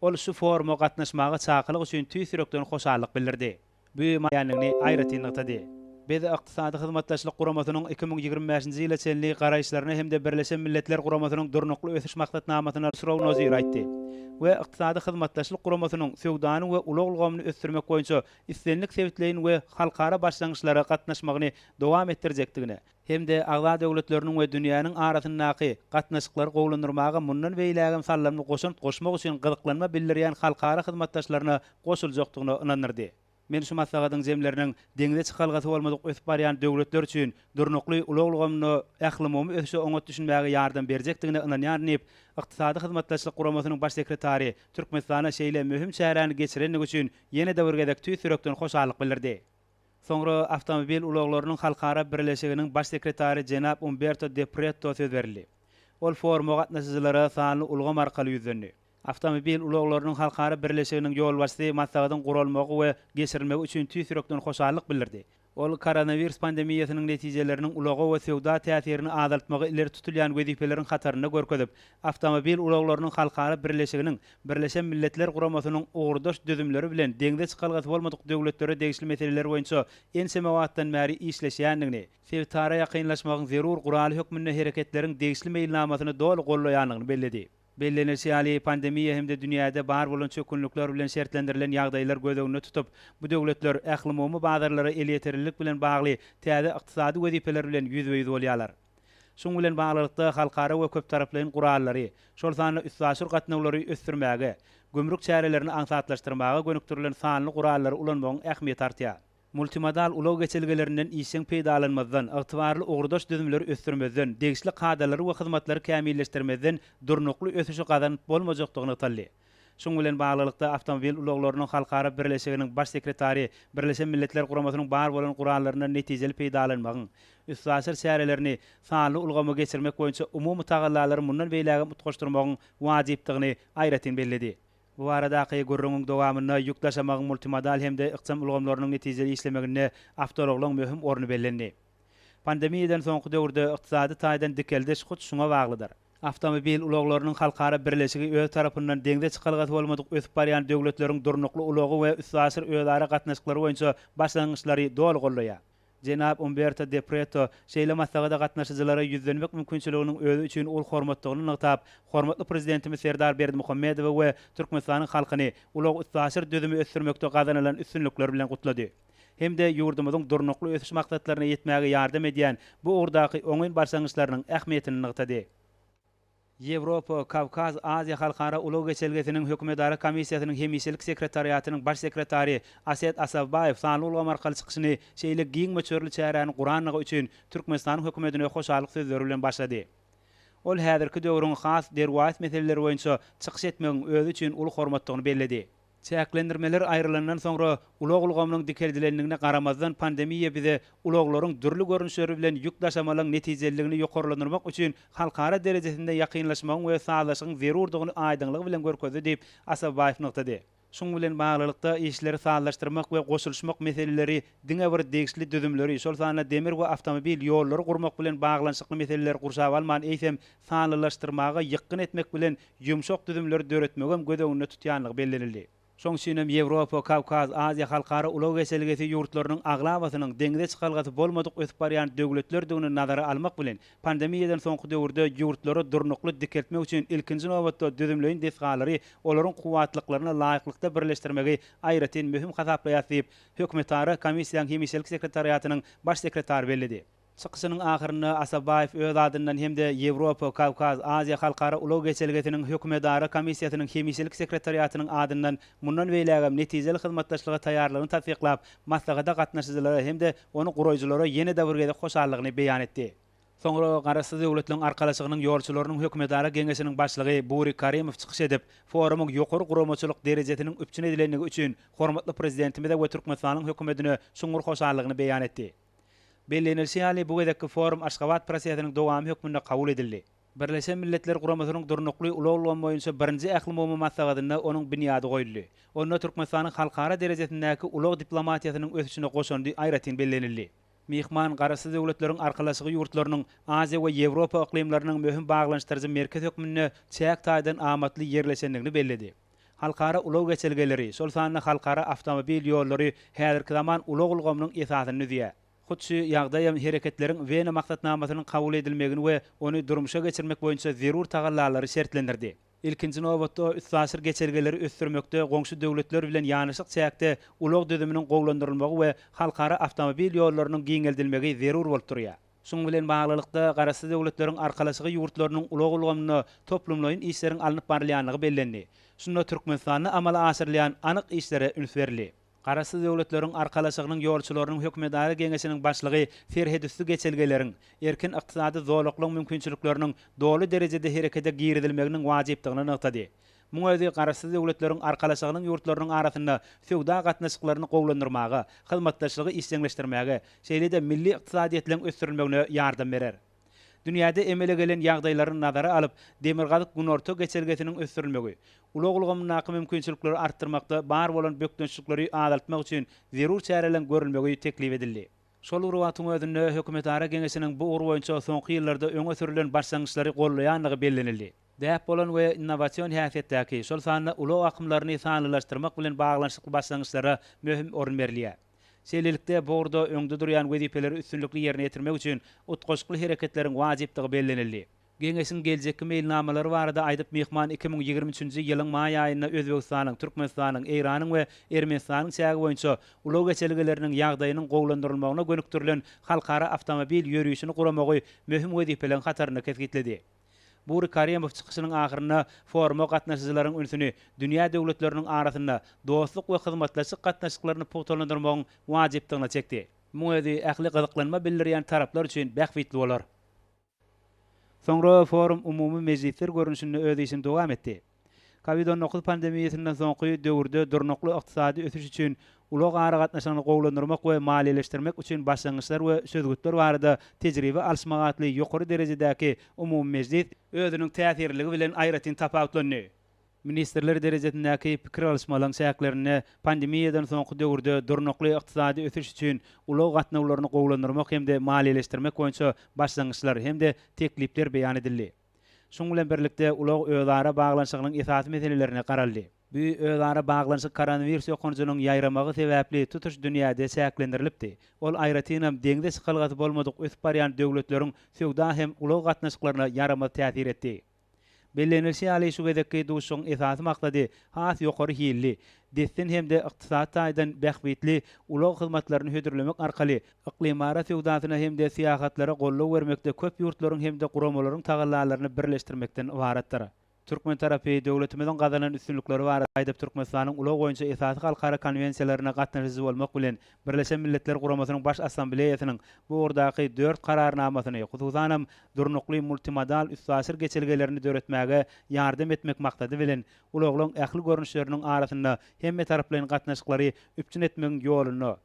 Ol şu foruma gatnaşmaga çakylyk üçin tüýs ýürekden hoşallyk bildirdi. büýümeýändigini aýratyn nygtady. Biz Ykdysady Hyzmatdaşlyk Guramasynyň iki müň ýigrimi bäşinji ýyla çenli garaýyşlaryna hem-de Birleşen Milletler Guramasynyň Durnukly ösüş maksatnamasyna Srounozir aýtdy we Ykdysady Hyzmatdaşlyk Guramasynyň söwdany we ulag ulgamyny ösdürmek boýunça islendik sebitleýin we halkara başlangyçlara gatnaşmagyny dowam etdirjekdigine hem-de agza döwletleriniň we dünýäniň arasyndaky gatnaşyklary gowulandyrmaga mundan beýlägem saldamly goşant goşmak üçin gyzyklanma bildirýän halkara hyzmatdaşlaryna goşuljakdygyna ynandyrdy. Men şu maslahatyň jemleriniň deňze çykalgasy bolmadyk ösüp barýan döwletler üçin durnukly ulag ulgamyna ählumumy ösüşe oňat düşünmäge ýardam berjekdigine ynanýaryn diýip, Ykdysady Hyzmatdaşlyk Guramasynyň Baş sekretary Türkmenistana şeýle möhüm çäräni geçirendigi üçin ýene-de bir gezek tüýs ýürekden hoşallyk bildirdi. Soňra Awtomobil ulaglarynyň halkara birleşiginiň Baş sekretary jenap Umberto de Pretto söz berildi. Ol foruma gatnaşyjylara sanly ulgam arkaly ýüzlendi. Awtomobil ulaglarynyň halkara birleşiginiň ýolbaşçysy maslahatyň guralmagy we geçirilmegi üçin tüýs ýürekden hoşallyk bildirdi. Ol koronawirus pandemiýasynyň netijeleriniň ulaga we söwda täsirini azaltmagy ileri tutulýan wezipeleriň hatarynda görkezip, Awtomobil ulaglarynyň halkara birleşiginiň Birleşen Milletler Guramasynyň ugurdaş düzümleri bilen deňze çykalgasy bolmadyk döwletlere degişli meseleler boýunça ençeme wagtdan bäri işleşýändigini, sebitara ýakynlaşmagyň zerur guraly hökmünde hereketleriň degişli meýilnamasyny doly goldaýandygyny belledi. Bellenilişi ýaly, pandemiýa hem-de dünýäde bar bolan çökgünlikler bilen şertlendirilen ýagdaýlar göz öňünde tutup, bu döwletler ählumumy bazarlara elýeterlilik bilen bagly täze ykdysady wezipeler bilen ýüzbe-ýüz bolýarlar. Şunuň bilen baglylykda, halkara we köptaraplaýyn gurallary, şol sanda üstaşyr gatnawlary ösdürmäge, gümrük çärelerini aňsatlaşdyrmaga gönükdirilen sanly gurallary ulanmagyň ähmiýeti artýar. Multimodal ulag geçelgelerinden işjeň peýdalanmazdan, ygtybarly ugurdaş düzümleri ösdürmezden, degişli kadalary we hyzmatlary kämilleşdirmezden durnukly ösüşi gazanyp bolmajakdygy nygtaldy. Şunuň bilen baglylykda, Awtomobil ulaglarynyň halkara birleşiginiň Baş sekretary Birleşen Milletler Guramasynyň bar bolan gurallaryndan netijeli peýdalanmagyň üstaşyr çärelerini sanly ulgama geçirmek boýunça umumy tagallalary mundan beýlägem utgaşdyrmagyň wajypdygyny aýratyn belledi. Bu baradaky gürrüňiň dowamynda ýük daşamagyň multimodal hem-de ykjam ulgamlarynyň netijeli işlemeginde awtoulaglaryň möhüm orny bellendi. Pandemiýadan soňky döwürde ykdysady taýdan dikeldiş hut şuňa baglydyr. Awtomobil ulaglarynyň halkara birleşigi öz tarapyndan deňze çykalgasy bolmadyk ösüp barýan döwletleriň durnukly ulagy we üstaşyr özara gatnaşyklary boýunça başlangyçlary doly goldaýar. Jenap Umberto de Preto şeýle maslahata gatnaşyjylara ýüzlenmek mümkinçiliginiň özi üçin uly hormatdygyny nygtap, hormatly Prezidentimiz Serdar Berdimuhamedowy we Türkmenistanyň halkyny ulag-üstaşyr düzümi ösdürmekde gazanylan üstünlikler bilen gutlady. hem-de ýurdumyzyň Durnukly ösüş maksatlaryna ýetmäge ýardam edýän bu ugurdaky oňyn başlangyçlarynyň ähmiýetini nygtady. Ýewropa, Kawkaz, Aziýa halkara ulag geçelgesiniň hökümetara komissiýasynyň hemişelik sekretariatynyň baş sekretary Aset Asawbaýew sanly ulgam arkaly çykyşyny şeýle giň möçberli çäräni gurandygy üçin Türkmenistanyň hökümetine hoşallyk sözleri bilen başlady. Ol häzirki döwrüň has derwaýys meseleleri boýunça çykyş etmegiň özi üçin uly hormatdygyny belledi. Çäklendirmeler aýrylandan soňra, ulag ulgamynyň dikeldilendigine garamazdan pandemiýa bize ulaglaryň dürli görnüşleri bilen ýük daşamalyň netijeliligini ýokarlandyrmak üçin halkara derejesinde ýakynlaşmagyň we sazlaşygyň zerurdygyny aýdyňlygy bilen görkezdi diýip, Asabaýew nygtady. Şuň bilen baglylykda, işleri sazlaşdyrmak we goşulyşmak meseleleri diňe bir degişli düzümleri, şol sanda demir we awtomobil ýollary gurmak bilen baglanyşykly meseleleri gurşap alman, eýsem, sanlylaşdyrmaga ýykgyn etmek bilen, ýumşak düzümleri döretmegem göz öňünde tutýandygy bellenildi. Şonuň üçin hem Ýewropa, Kawkaz, Aziýa halkara ulag geçelgesi ýurtlarynyň aglabasynyň deňize çykalgasy bolmadyk ösüp barýan döwletlerdigini nazara almak bilen, pandemiýadan soňky döwürde ýurtlary durnukly dikeltmek üçin ilkinji nobatda düzümleýin desgalary olaryň kuwwatlyklaryna laýyklykda birleşdirmegi aýratyn möhüm hasaplaýas diýip, Hökümetara komissiýaň hemişelik sekretariatynyň Baş sekretary belledi. Çykyşynyň ahyrynda Asabaýew öz adyndan hem-de Ýewropa, Kawkaz, Aziýa halkara ulag geçelgesiniň Hökümetara komissiýasynyň hemişelik sekretariatynyň adyndan mundan beýlägem netijeli hyzmatdaşlyga taýýarlygyny tassyklap, maslahata gatnaşyjylara hem-de ony guraýjylara ýene-de bir gezek hoşallygyny beýan etdi. Soňra Garaşsyz Döwletleriň Arkalaşygynyň ýolçularynyň hökümetara geňeşiniň başlygy Bury Karimow çykyş edip, forumyň ýokary guramaçylyk derejesiniň üpjün edilendigi üçin hormatly Prezidentimize we Türkmenistanyň Hökümetine çuňňur hoşallygyny beýan etdi. Bellenilişi ýaly, bu gezekki forum Aşgabat prosesiniň dowamy hökmünde kabul edildi. Birleşen Milletler Guramasynyň Durnukly ulag ulgamy boýunça birinji ählumumy maslahatynda onuň binýady goýuldy. Onda Türkmenistanyň halkara derejesindäki ulag diplomatiýasynyň ösüşine goşandy aýratyn bellenildi. Myhman Garaşsyz Döwletleriň Arkalaşygy ýurtlarynyň Aziýa we Ýewropa yklymlarynyň möhüm baglanyşdyryjy merkez hökmünde çäk taýdan amatly ýerleşendigini belledi. Halkara ulag geçelgeleri, şol sanda halkara awtomobil ýollary häzirki zaman ulag ulgamynyň esasyny düzýär. Hut şu ýagdaý hem Hereketleriň Wena maksatnamasynyň kabul edilmegini we ony durmuşa geçirmek boýunça zerur tagallalary şertlendirdi. Ilkinji nobatda, üstaşyr geçelgeleri ösdürmekde goňşy döwletler bilen ýanaşyk çäkde ulag düzüminiň gowulandyrylmagy we halkara awtomobil ýollarynyň giňeldilmegi zerur bolup durýar. Şunuň bilen baglylykda, Garaşsyz Döwletleriň Arkalaşygy ýurtlarynyň ulag ulgamynda toplumlaýyn işleriň alnyp barylýandygy bellendi. Şunda Türkmenistanda amala aşyrylýan anyk işlere üns berildi. Garaşsyz Döwletleriň Arkalaşygynyň ýolçularynyň hökümedara geňeşiniň başlygy serhetüsti geçelgeleriň, erkin ykdysady zolaklaryň mümkinçilikleriniň doly derejede herekete girizilmeginiň wajypdygyny nygtady. Muň özi Garaşsyz Döwletleriň Arkalaşygynyň ýurtlarynyň arasynda söwda gatnaşyklaryny gowulandyrmaga, hyzmatdaşlygy işjeňleşdirmäge, şeýle-de milli ykdysadyýetleň ösdürilmegine ýardam berer. Dünýäde emele gelen ýagdaýlary nazara alyp, Demirgazyk-Günorta geçelgesiniň ösdürilmegi, ulag ulgamyndaky mümkinçilikleri artdyrmakda bar bolan bökdençlikleri azaltmak üçin zerur çäreleň görülmegi teklip edildi. Şol bir wagtyň özünde Hökümetara Geňeşiniň bu ugur boýunça soňky ýyllarda öňe sürlen başlangyçlary goldaýandygy bellenildi. däp bolan we innowasion häsiýetdäki, şol sanda ulag akymlaryny sanlylaşdyrmak bilen baglanyşykly başlangyçlara möhüm orun berilýär. Şeýlelikde, bu ugurda öňde durýan wezipeleri üstünlikli ýerine ýetirmek üçin utgaşykly hereketleriň wajypdygy bellenildi. Geňeşiň geljekki meýilnamalary barada aýdyp, myhman iki müň ýigrimi üçünji ýylyň maý aýynda Özbegistanyň, Türkmenistanyň, Eýranyň we Ermenistanyň çägi boýunça ulag geçelgeleriniň ýagdaýynyň gowulandyrylmagyna gönükdirilen halkara awtomobil ýörişini guramagy möhüm wezipeleriň hatarynda kesgitledi. Bury Karemow çykyşynyň ahyrynda foruma gatnaşyjylaryň ünsüni dünýä döwletleriniň arasynda dostluk we hyzmatdaşlyk gatnaşyklaryny pugtalandyrmagyň wajypdygyna çekdi. Muň özi ähli gyzyklanma bildirýän taraplar üçin bähbitli bolar. Soňra forum umumy mejlisler görnüşinde öz işini dowam etdi. Covid on dokuz pandemiýasyndan soňky döwürde durnukly ykdysady ösüş üçin ulag aragatnaşygyny gowulandyrmak we maliýeleşdirmek üçin başlangyçlar we çözgütler barada tejribe alyşmak atly ýokary derejedäki umumy mejlis özüniň täsirliligi bilen aýratyn tapawutlandy. Ministrler derejesindäki pikir alyşmalaryň çäklerinde pandemiýadan soňky döwürde durnukly ykdysady ösüş üçin ulag gatnawlaryny gowulandyrmak hem-de maliýeleşdirmek boýunça başlangyçlar hem-de teklipler beýan edildi. Şunuň bilen birlikde, ulag özara baglanyşygynyň esasy meselelerine garaldy. Bu özara baglanyşyk koronawirus ýokanjynyň ýaýramagy sebäpli tutuş dünýäde çäklendirilipdi, ol aýratynam deňze çykalgasy bolmadyk ösüp barýan döwletleriň söwda hem ulag gatnaşyklaryna ýaramaz täsir etdi. Bellenilişi ýaly, şu gezekki duşuşygyň esasy maksady has ýokary hilli, dessin hem-de ykdysady taýdan bähbitli ulag hyzmatlaryny hödürlemek arkaly Yklymara söwdasyna hem-de syýahatlara goldaw bermekde köp ýurtlaryň hem-de guramalaryň tagallalaryny birleşdirmekden ybaratdyr. Türkmen tarapy döwletimiziň gazanan üstünlikleri barada aýdyp Türkmenistanyň ulag boýunça esasy halkara konwensiýalaryna gatnaşyjy bolmak bilen Birleşen Milletler Guramasynyň Baş Assambleýasynyň bu ugurdaky dört Kararnamasyny hususanam durnukly multimodal üstaşyr geçelgelerini döretmäge ýardam etmek maksady bilen ulaglaň ähli görnüşleriniň arasynda hemmetaraplaýyn gatnaşyklary üpjün etmegiň ýolunda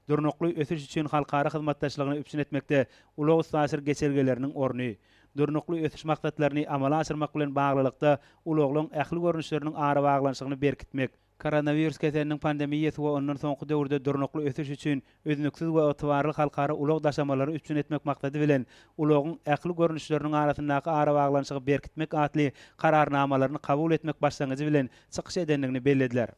Durnukly ösüş üçin halkara hyzmatdaşlygyny üpjün etmekde ulag-üstaşyr geçelgeleriniň orny, Durnukly ösüş maksatlaryny amala aşyrmak bilen baglylykda ulaglaryň ähli görnüşleriniň arabaglanyşygyny berkitmek, koronawirus keseliniň pandemiýasy we ondan soňky döwürde durnukly ösüş üçin üznüksiz we ygtybarly halkara ulag daşamalary üpjün etmek maksady bilen ulagyň ähli görnüşleriniň arasyndaky arabaglanyşygy berkitmek atly Kararnamalaryny kabul etmek başlangyjy bilen çykyş edendigini bellediler.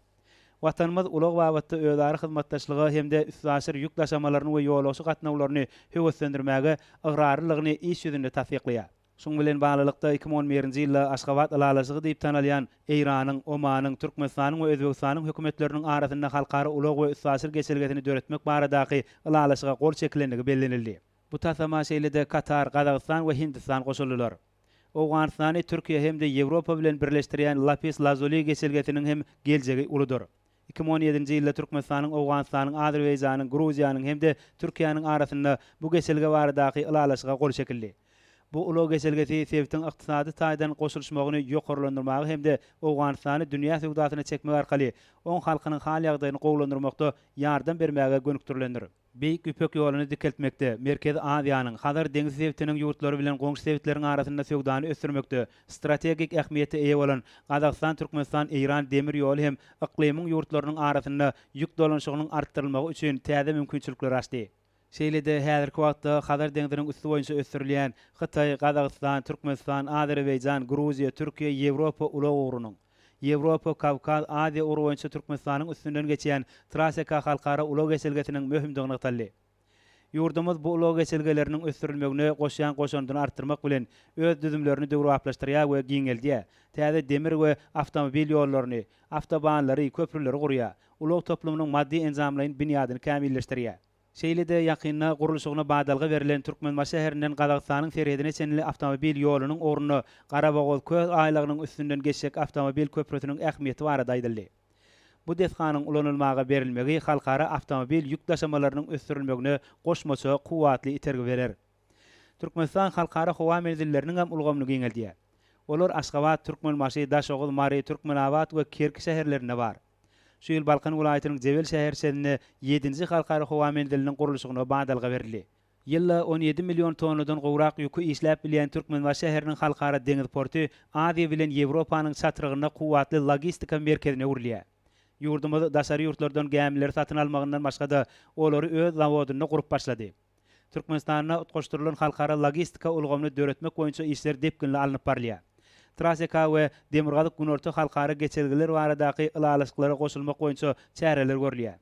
Watanymyz ulag babatda özara hyzmatdaşlyga hem-de üstaşyr ýük daşamalaryny we ýolagçy gatnawlaryny höweslendirmäge ygrarlylygyny iş ýüzünde tassyklaýar. Şunuň bilen baglylykda, iki müň on birinji ýylda Aşgabat ylalaşygy diýip tanalýan Eýranyň, Omanyň, Türkmenistanyň we Özbegistanyň Hökümetleriniň arasynda halkara ulag we üstaşyr geçelgesini döretmek baradaky ylalaşyga gol çekilendigi bellenildi. Bu taslama şeýle-de Katar, Gazagystan we Hindistan goşuldylar. Owganystany Türkiýe hem-de Ýewropa bilen birleşdirýän Lapis-Lazuli geçelgesiniň hem geljegi uludyr. Iki müň on ýedinji ýylda Türkmenistanyň, Owganystanyň, Azerbaýjanyň, Gruziýanyň hem-de Türkiýäniň arasynda bu geçelge baradaky ylalaşyga gol çekildi. Bu ulag geçelgesi sebitiň ykdysady taýdan goşulyşmagyny ýokarlandyrmaga hem-de Owganystany dünýä söwdasyna çekmek arkaly oň halkynyň hal-ýagdaýyny gowulandyrmakda ýardam bermäge gönükdirilendir. Beýik Ýüpek ýoluny dikeltmekde, Merkezi Aziýanyň, Hazar deňzi sebitiniň ýurtlary bilen goňşy sebitleriň arasynda söwdany ösdürmekde strategik ähmiýete eýe bolan Gazagystan-Türkmenistan-Eýran demir ýoly hem yklymyň ýurtlarynyň arasynda ýük dolanyşygynyň artdyrylmagy üçin täze mümkinçilikleri açdy. Şeýle-de häzirki wagtda Hazar deňziniň üsti boýunça ösdürilýän Hytaý, Gazagystan, Türkmenistan, Azerbaýjan, Gruziýa, Türkiýe, Ýewropa ulag ugrunyň, Ýewropa, Kawkaz, Aziýa ugry boýunça Türkmenistanyň üstünden geçýän Traseka halkara ulag geçelgesiniň möhümdigi nygtaldy. Ýurdumyz bu ulag geçelgeleriniň ösdürilmegine goşýan goşandyny artdyrmak bilen, öz düzümlerini döwrebaplaşdyrýar we giňeldýär, täze demir we awtomobil ýollaryny, awtobanlary, köprüleri gurýar, ulag toplumynyň maddy-enjamlaýyn binýadyny kämilleşdirýär. Şeýle-de ýakynda gurluşygyna badalga berlen Türkmenbaşy şäherinden Gazagystanyň serhedine çenli awtomobil ýolunyň ugrunda Garabogaz-Köl aýlagynyň üstünden geçjek awtomobil köprüsiniň ähmiýeti barada aýdyldy. Bu desganyň ulanylmaga berilmegi halkara awtomobil ýük daşamalarynyň ösdürilmegine goşmaça kuwwatly itergi berer. Türkmenistan halkara howa menzilleriniňem ulgamyny giňeldýär. Olar Aşgabat, Türkmenbaşy, Daşoguz, Mary, Türkmenabat we Kerki şäherlerinde bar. Şu ýyl Balkan welaýatynyň Jebel şäherçesinde ýedinji halkara howa menziliniň gurluşygyna badalga berildi. Ýylda on ýedi million tonnadan gowrak ýüki işläp bilýän Türkmenbaşy şäheriniň halkara deňiz porty Aziýa bilen Ýewropanyň çatrygynda kuwwatly logistika merkezine öwrülýär. Ýurdumyz daşary ýurtlardan gämileri satyn almagyndan başga-da, olary öz zawodynda gurup başlady. Türkmenistanda utgaşdyrylan halkara logistika ulgamyny döretmek boýunça işler depginli alnyp barylýar. Traseka we Demirgazyk-Günorta halkara geçelgeler baradaky ylalaşyklara goşulmak boýunça çäreler görülýär.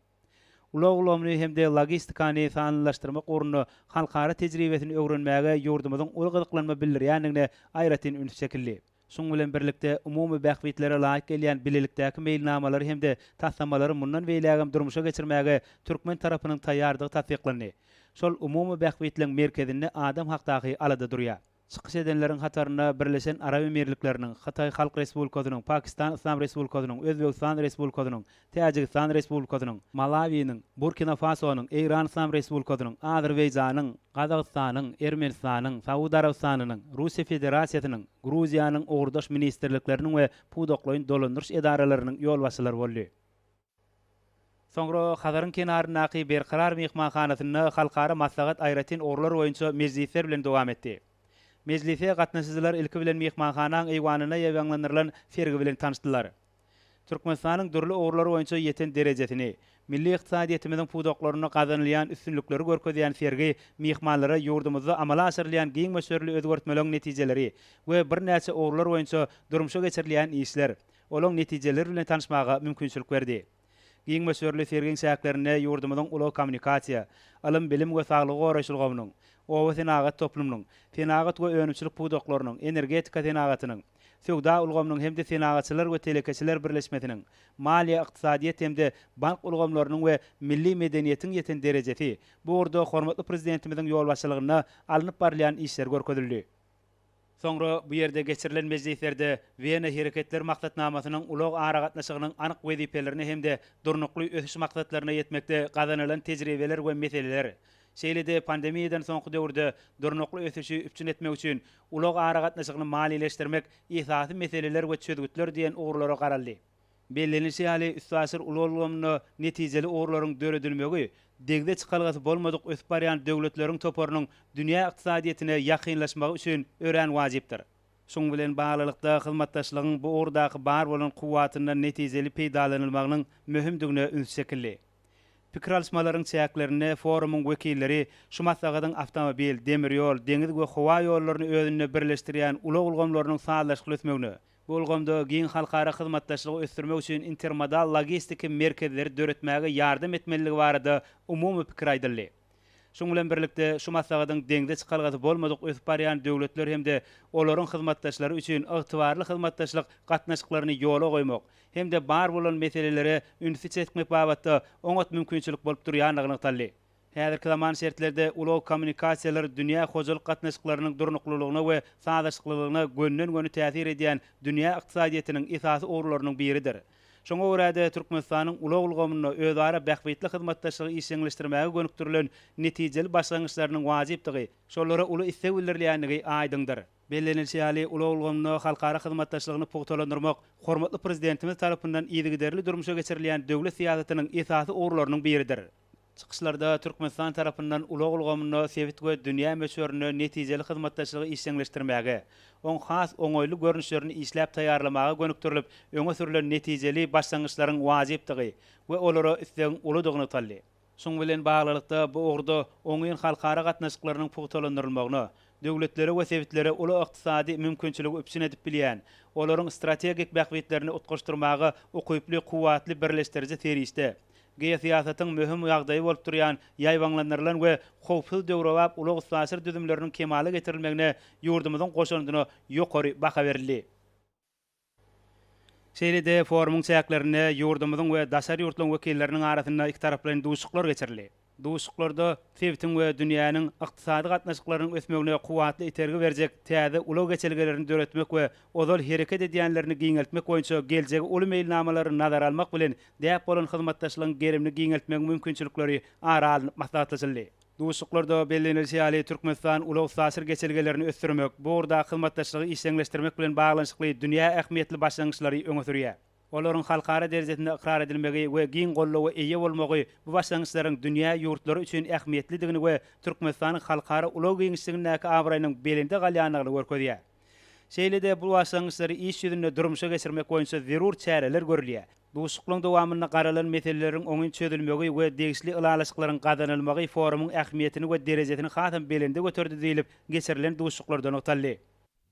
Ulag ulgamyny hem-de logistikany sanlylaşdyrmak ugrunda halkara tejribesini öwrenmäge ýurdumyzyň uly gyzyklanma bildirýändigine aýratyn üns çekildi. Şunuň bilen birlikde, umumy bähbitlere laýyk gelýän bilelikdäki meýilnamalary hem-de taslamalary mundan beýlägem durmuşa geçirmäge türkmen tarapynyň taýýardygy tassyklandy. Şol umumy bähbitleň merkezinde adam hakdaky alada durýar. Çykyş edenleriň hatarynda Birleşen Arap Emirlikleriniň, Hytaý Halk Respublikasynyň, Pakistan Yslam Respublikasynyň, Özbegistan Respublikasynyň, Täjigistan Respublikasynyň, Malawiniň, Burkina Fasonyň, Eýran Yslam Respublikasynyň, Azerbaýjanyň, Gazagystanyň, Ermenistanyň, Saud Arabystanynyň, Russiýa Federasiýasynyň, Gruziýanyň ugurdaş ministrlikleriniň we pudaklaýyn dolandyryş edaralarynyň ýolbaşçylary boldy. Soňra Hazaryň kenaryndaky Berkarar myhmanhanasynda halkara maslahat aýratyn ugurlar boýunça mejlisler bilen dowam etdi. Mejlise gatnaşyjylar ilki bilen myhmanhanaň eýwanynda ýaýbaňlandyrylan sergi bilen tanyşdylar. Türkmenistanyň dürli ugurlar boýunça ýeten derejesini, milli ykdysadyýetimiziň pudaklarynda gazanylýan üstünlikleri görkezýän sergi myhmanlara ýurdumyzda amala aşyrylýan giň möçberli özgertmeleriň netijeleri we birnäçe ugurlar boýunça durmuşa geçirilýän işler, olaryň netijeleri bilen tanyşmaga mümkinçilik berdi. Giň möçberli sergiň çäklerinde ýurdumyzyň ulag-kommunikasiýa, ylym-bilim we saglygy goraýyş ulgamynyň, obasenagat toplumynyň, senagat we önümçilik pudaklarynyň, energetika senagatynyň, Söwda ulgamynyň hem-de Senagatçylar we telekeçiler birleşmesiniň, maliýe-ykdysadyýet hem-de bank ulgamlarynyň we milli medeniýetiň ýeten derejesi, bu ugurda hormatly Prezidentimiziň ýolbaşçylygynda alnyp barylýan işler görkezildi. Soňra bu ýerde geçirilen mejlislerde Wena Hereketler maksatnamasynyň ulag aragatnaşygynyň anyk wezipelerine hem-de Durnukly ösüş maksatlaryna ýetmekde gazanylan tejribeler we meseleler, Şeýle-de pandemiýadan soňky döwürde durnukly ösüşi üpjün etmek üçin ulag aragatnaşygyny maliýeleşdirmek esasy meseleler we çözgütler diýen ugurlara garaldy. Bellenilişi ýaly, üstaşyr ulag ulgamynda netijeli ugurlaryň döredilmegi degde çykalgasy bolmadyk ösüp barýan döwletleriň toparynyň dünýä ykdysadyýetine ýakynlaşmagy üçin örän wajypdyr. Şunuň bilen baglylykda, hyzmatdaşlygyň bu ugurdaky bar bolan kuwwatyndan netijeli peýdalanylmagynyň möhümdigine üns çekildi. Pikir alyşmalaryň çäklerinde forumyň wekilleri şu maslahatyň awtomobil, demir ýol, deňiz we howa ýollaryny özünde birleşdirýän ulag ulgamlarynyň sazlaşykly ösmegine, bu ulgamda giň halkara hyzmatdaşlygy ösdürmek üçin intermodal logistiki merkezleri döretmäge ýardam etmelidigi barada umumy pikir aýdyldy. Şunuň bilen birlikde, şu maslahatyň deňze çykalgasy bolmadyk ösüp barýan döwletler hem-de olaryň hyzmatdaşlary üçin ygtybarly hyzmatdaşlyk gatnaşyklaryny ýola goýmak hem-de bar bolan meselelere ünsi çekmek babatda oňat mümkinçilik bolup durýandygy nygtaldy. Häzirki zaman şertlerinde ulag-kommunikasiýalar dünýä hojalyk gatnaşyklarynyň durnuklylygyna we sazlaşyklylygyna gönden-göni täsir edýän dünýä ykdysadyýetiniň esasy ugurlarynyň biridir. Şoňa görä-de, Türkmenistanyň ulag ulgamynda özara bähbitli hyzmatdaşlygy işjeňleşdirmäge gönükdirilen netijeli başlangyçlarynyň wajypdygy, şolara uly isleg bildirilýändigi aýdyňdyr. Bellenilişi ýaly, ulag ulgamynda halkara hyzmatdaşlygyny pugtalandyrmak hormatly Prezidentimiz tarapyndan yzygiderli durmuşa geçirilýän döwlet syýasatynyň esasy ugurlarynyň biridir. Çykyşlarda Türkmenistan tarapyndan ulag ulgamynda sebit we dünýä möçberinde netijeli hyzmatdaşlygy işjeňleşdirmäge, oň has oňaýly görnüşlerini işläp taýýarlamaga gönükdirilip öňe sürlen netijeli başlangyçlaryň wajypdygy we olara islegiň uludygy nygtaldy. Şunuň bilen baglylykda, bu ugurda oňyn halkara gatnaşyklarynyň pugtalandyrylmagyna, döwletlere we sebitlere uly ykdysady mümkinçiligi üpjün edip bilýän, olaryň strategik bähbitlerini utgaşdyrmaga ukyply kuwwatly birleşdiriji serişde, Geosyýasatyň möhüm ýagdaýy bolup durýan ýaýbaňlandyrylan we howpsuz döwrebap ulag-üstaşyr düzümleriniň kemala getirilmegine ýurdumyzyň goşandyna ýokary baha berildi. Şeýle-de forumyň çäklerinde ýurdumyzyň we daşary ýurtlaryň wekilleriniň arasynda ikitaraplaýyn duşuşyklar geçirildi. Duşuşyklarda sebitiň we dünýäniň ykdysady gatnaşyklarynyň ösmegine kuwwatly itergi berjek täze ulag geçelgelerini döretmek we ozal hereket edýänlerini giňeltmek boýunça geljegi uly meýilnamalary nazara almak bilen däp bolan hyzmatdaşlygyň gerimini giňeltmegiň mümkinçilikleri ara alnyp maslahatlaşyldy. Duşuşyklarda bellenilişi ýaly, Türkmenistan ulag-üstaşyr geçelgelerini ösdürmek, bu ugurdaky hyzmatdaşlygy işjeňleşdirmek bilen baglanyşykly dünýä ähmiýetli başlangyçlary öňe sürýär. Olaryň halkara derejesinde ykrar edilmegi we giň goldawa eýe bolmagy bu başlangyçlaryň dünýä ýurtlary üçin ähmiýetlidigini we Türkmenistanyň halkara ulag giňişligindäki abraýynyň belende galýandygyny görkezýär. Şeýle-de bu başlangyçlary iş ýüzünde durmuşa geçirmek boýunça zerur çäreler görülýär. Duşuşyklaryň dowamynda garalan meseleleriň oňyn çözülmegi we degişli ylalaşyklaryň gazanylmagy forumyň ähmiýetini we derejesini hasam belende göterdi diýlip, geçirilen duşuşyklarda nygtaldy.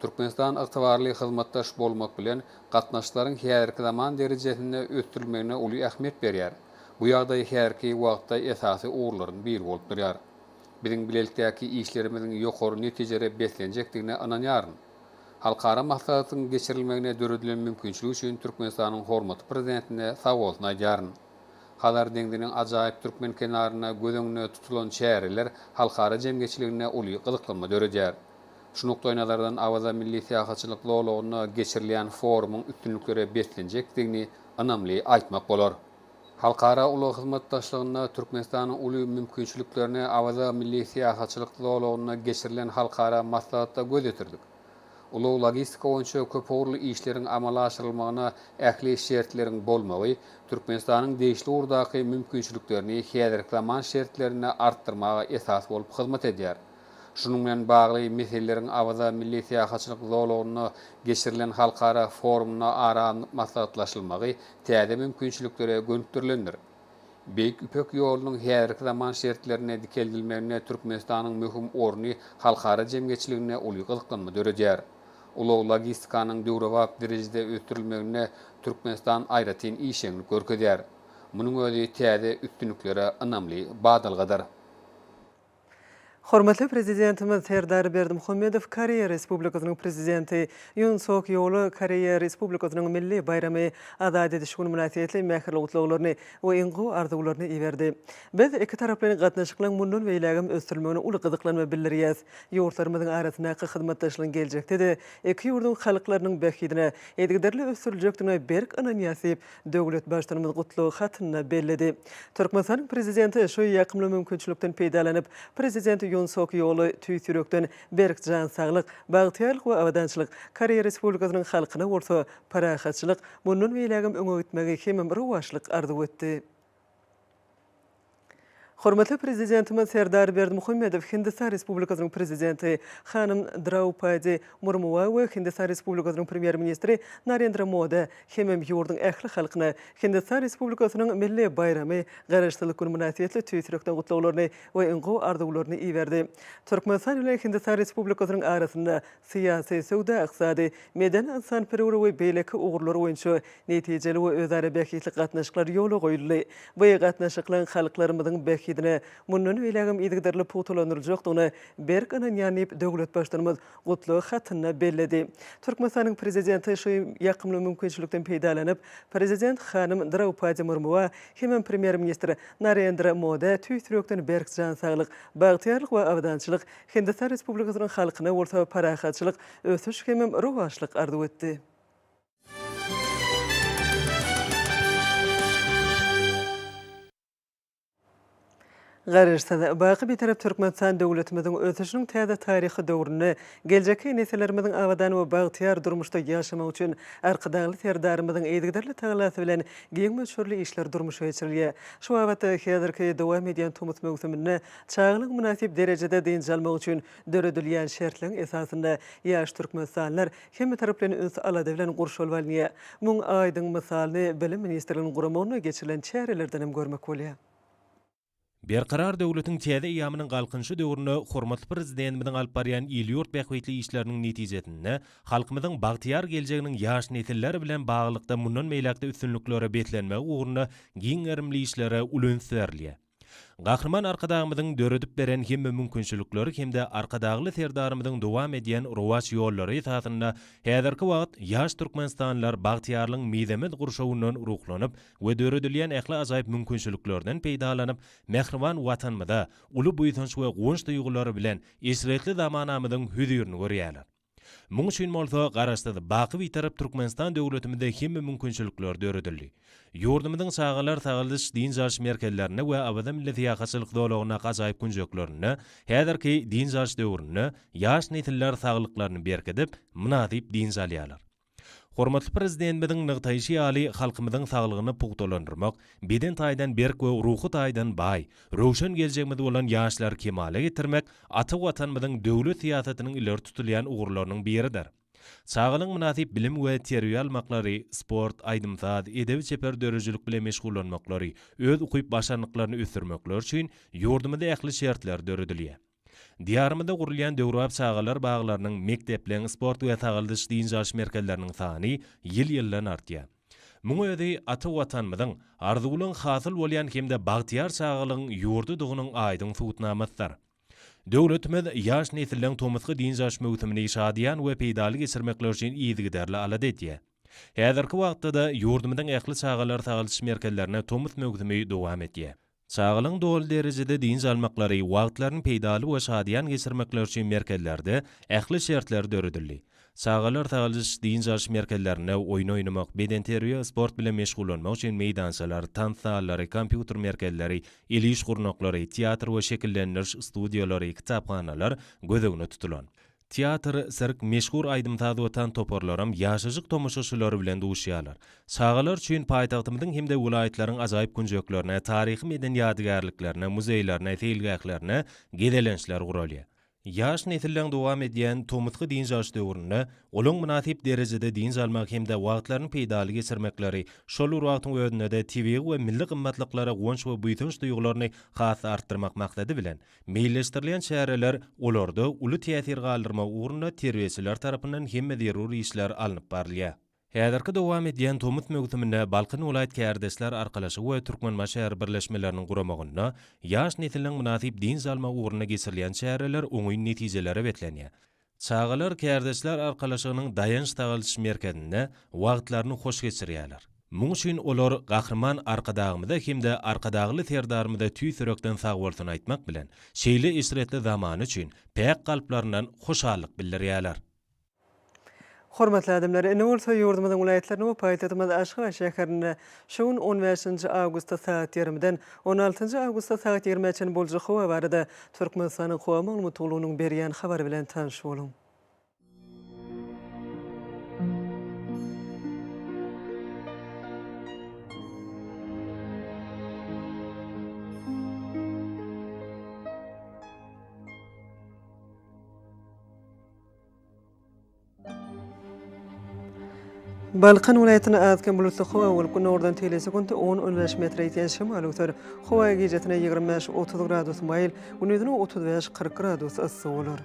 Türkmenistan ygtybarly hyzmatdaş bolmak bilen, gatnaşyklaryň häzirki zaman derejesinde ösdürilmegine uly ähmiýet berýär. Bu ýagdaý häzirki wagtda esasy ugurlaryň biri bolup durýar. Biziň bilelikdäki işlerimiziň ýokary netijelere beslenjekdigine ynanýaryn. Halkara maslahatyň geçirilmegine döredilen mümkinçilik üçin Türkmenistanyň hormatly Prezidentine sag bolsun aýdýaryn. Hazar deňziniň ajaýyp türkmen kenarynda göz öňünde tutulan çäreler halkara jemgyýetçiliginde uly gyzyklanma döredýär. Şu nukdaýnazardan Awaza milli syýahatçylyk zolagynda geçirilýän forumyň üstünliklere beslenjekdigini ynamly aýtmak bolar. Halkara ulag hyzmatdaşlygynda Türkmenistanyň uly mümkinçiliklerine Awaza milli syýahatçylyk zolagynda geçirilen halkara maslahatda göz ýetirdik. Ulag-logistika boýunça köpugurly işleriň amala aşyrylmagyna ähli şertleriň bolmagy Türkmenistanyň degişli ugurdaky mümkinçiliklerini häzirki zaman şertlerinde artdyrmaga esas bolup hyzmat edýär. Şunuň bilen bagly meseleleriň Awaza milli syýahatçylyk zolagynda geçirilen halkara forumynda ara alnyp maslahatlaşylmagy täze mümkinçiliklere gönükdirilendir. Beýik Ýüpek ýolunyň häzirki zaman şertlerinde dikeldilmeginde Türkmenistanyň möhüm orny halkara jemgyýetçiliginde uly gyzyklanma döredýär. Ulag-logistikanyň döwrebap derejede ösdürilmeginde Türkmenistan aýratyn işjeňlik görkezýär. Munuň özi täze üstünliklere ynamly badalgadyr. Hormatly Prezidentimiz Serdar Berdimuhamedow Koreýa Respublikasynyň Prezidenti Ýun Sok Ýola Koreýa Respublikasynyň milli baýramy Azat ediş güni mynasybetli mähirli gutlaglaryny we iň gowy arzuwlaryny iberdi. Biz ikitaraplaýyn gatnaşyklaryň mundan beýlägem ösdürilmegine uly gyzyklanma bildirýäs. Ýurtlarymyzyň arasyndaky hyzmatdaşlygyň geljekde-de iki ýurduň halklarynyň bähbidine yzygiderli ösdüriljekdigine berk ynanýas diýip, Döwlet Baştutanymyz gutlag hatynda belledi. Türkmenistanyň Prezidenti şu ýakymly mümkinçilikden peýdalanyp, Prezident Ýun Sok Ýola tüýs ýürekden berk jan saglyk, bagtyýarlyk we abadançylyk, Koreýa Respublikasynyň halkyna bolsa parahatçylyk, mundan beýlägem öňe gitmegi hem rowaçlyk arzuw etdi. Hormatly Prezidentimiz Serdar Berdimuhamedow Hindistan Respublikasynyň Prezidenti hanym Draupadi Murmua we Hindistan Respublikasynyň Premýer-ministri Narendra Moda hemem ýurduň ähli halkyna Hindistan Respublikasynyň milli baýramy, Garaşsyzlyk güni mynasybetli tüýs ýürekden gutlaglaryny we iň gowy arzuwlaryny iberdi. Türkmenistan bilen Hindistan Respublikasynyň arasynda syýasy, söwda-ykdysady, medeni-ynsanperwer we beýleki ugurlar boýunça netijeli we özara bähbitli gatnaşyklar ýola goýuldy. Bu gatnaşyklaryň halklarymyzyň bähbidine mundan beýlägem yzygiderli pugtalandyryljakdygyna berk ynanýan diýip, döwlet Baştutanymyz gutlag hatynda belledi. Türkmenistanyň Prezidenti şu ýakymly mümkinçilikden peýdalanyp, Prezident hanym Draupadi Murmua hemem Premýer-ministr Narendra Moda tüýs ýürekden berk jan saglyk, bagtyýarlyk we abadançylyk, Hindistan Respublikasynyň halkyna bolsa parahatçylyk, ösüş hemem rowaçlyk arzuw etdi. Garaşsyz, baky Bitarap Türkmenistan döwletimiziň ösüşiniň täze taryhy döwründe geljekki nesillerimiziň abadan we bagtyýar durmuşda ýaşamagy üçin Arkadagly Serdarymyzyň yzygiderli tagallasy bilen giň möçberli işler durmuşa geçirilýär. Şu babatda häzirki dowam edýän tomus möwsüminde Çagalar mynasyp derejede dynç almagy üçin döredilýän şertleň esasynda ýaş türkmenistanlylar hemmetaraplaýyn üns-alada bilen gurşalyp alynýar. Muň aýdyň mysalyny Bilim ministrliginiň guramagynda geçirilen çärelerden hem görmek bolýar. Berkarar döwletiň täze eýýamynyň Galkynyşy döwründe hormatly Prezidentimiziň alyp barýan il-ýurt bähbitli işleriniň netijesinde halkymyzyň bagtyýar geljeginiň ýaş nesiller bilen baglylykda mundan beýläk-de üstünliklere beslenmegi ugrunda giň gerimli işlere uly üns berilýär. Gahryman Arkadagymyzyň döredip beren hemme mümkinçilikleri hem-de Arkadagly Serdarymyzyň dowam edýän rowaç ýollary esasynda häzirki wagt ýaş türkmenistanlylar bagtyýarlygyň mizemez gurşawyndan ruhlanyp we döredilýän ähli ajaýyp mümkinçiliklerden peýdalanyp, mähriban Watanymyza uly buýsanç we guwanç duýgulary bilen eşretli zamanamyzyň hüzirini görýärler. Muň üçin bolsa Garaşsyz, baky Bitarap Türkmenistan döwletimizde hemme mümkinçilikler döredildi. Ýurdumyzyň çagalar sagaldyş, dynç alyş merkezlerinde we Awaza milli syýahatçylyk zolagyndaky ajaýyp künjeklerinde häzirki dynç alyş döwründe ýaş nesiller saglyklaryny berkidip, mynasyp dynç alýarlar. Hormatly Prezidentimiziň nygtaýşy ýaly, halkymyzyň saglygyny pugtalandyrmak, beden taýdan berk we ruhy taýdan baý, röwşen geljegimiz bolan ýaşlary kemala getirmek ata Watanymyzyň döwlet syýasatynyň ileri tutulýan ugurlarynyň biridir. Çagalaryň mynasyp bilim we terbiýe almaklary, sport, aýdym-saz, edebi-çeper döredijilik bilen meşgullanmaklary, öz ukyp-başarnyklaryny ösdürmekleri üçin ýurdumyzda ähli şertler döredilýär. Diýarymyzda gurulýan döwrebap çagalar baglarynyň, mekdepleriň, sport we sagaldyş-dynç alyş merkezleriniň sany ýyl-ýyldan artýar. Muň özi ata Watanymyzyň arzuwlaň hasyl bolýan hem-de bagtyýar çagalygyň ýurdudygynyň aýdyň subutnamasydyr. Döwletimiz ýaş nesilleň tomusky dynç alyş möwsümini şadyýan we peýdaly geçirmekleri üçin yzygiderli alada edýär. Häzirki wagtda-da ýurdumyzyň ähli çagalar sagaldyş merkezlerinde tomus möwsümi dowam edýär. Çagalaryň doly derejede dynç almaklary, wagtlaryny peýdaly we şadyýan geçirmekleri üçin merkezlerde ähli şertler döredildi. Çagalar sagaldyş, dynç alyş merkezlerinde oýun oýnamak, bedenterbiýe, sport bilen meşgullanmak üçin meýdançalar, tans zallary, kompýuter merkezleri, el iş gurnaklary, teatr we şekillendiriş studiýalary, kitaphanalar göz öňünde tutulan. Teatr, sirk, meşhur aýdym-saz we tans toparlaram ýaşajyk tomaşaçylary bilen duşýarlar. Çagalar üçin paýtagtymyzyň hem-de welaýatlaryň ajaýyp künjeklerine, taryhy-medeni ýadygärliklerine, muzeýlerine, seýilgählerine gezelençler guralýar. Ýaş nesilleň dowam edýän tomusky dynç alyş döwründe olaň mynasyp derejede dynç almagy hem-de wagtlaryny peýdaly geçirmekleri, şol bir wagtyň özünde-de tebigy we milli gymmatlyklara guwanç we buýsanç duýgularyny has-da artdyrmak maksady bilen, Meýilleşdirilýän çäreler, olarda uly täsir galdyrmak ugrunda terbiýeçiler tarapyndan hemme zerur işler alnyp barylýar. Häzirki dowam edýän tomus möwsüminde Balkan welaýat Kärdeşler arkalaşygy we Türkmenbaşy şäher birleşmeleriniň guramagynda ýaş nesliň mynasyp dynç almagy ugrunda geçirilýän çäreler oňyn netijelere beslenýär. Çagalar Kärdeşler arkalaşygynyň daýanç-sagaldyş merkezinde wagtlaryny hoş geçirýärler. Muň üçin olar Gahryman Arkadagymyza hem-de Arkadagly Serdarymyza tüýs ýürekden sagbolsun aýtmak bilen, şeýle eşretli zamany üçin päk kalplaryndan hoşallyk bildirýärler. Hormatly adamlar, ine bolsa ýurdumyzyň welaýatlaryny we paýtagtymyz Aşgabat şäherinde şu gün on bäşinji awgustda sagat ýarymdan on altynjy awgustda sagat ýigrimä çenli boljak howa barada Türkmenistanyň Howa maglumat gullugynyň berýän habary bilen tanyş boluň. Balkan welaýatynda az-kem bulutly howa bolup, günordan teýlese sekunda on, on bäş metre ýetýän şemal öwser. Howa gijesine ýigrimi bäş, otuz gradus maýyl, gündizine otuz bäş, kyrk gradus yssy bolar.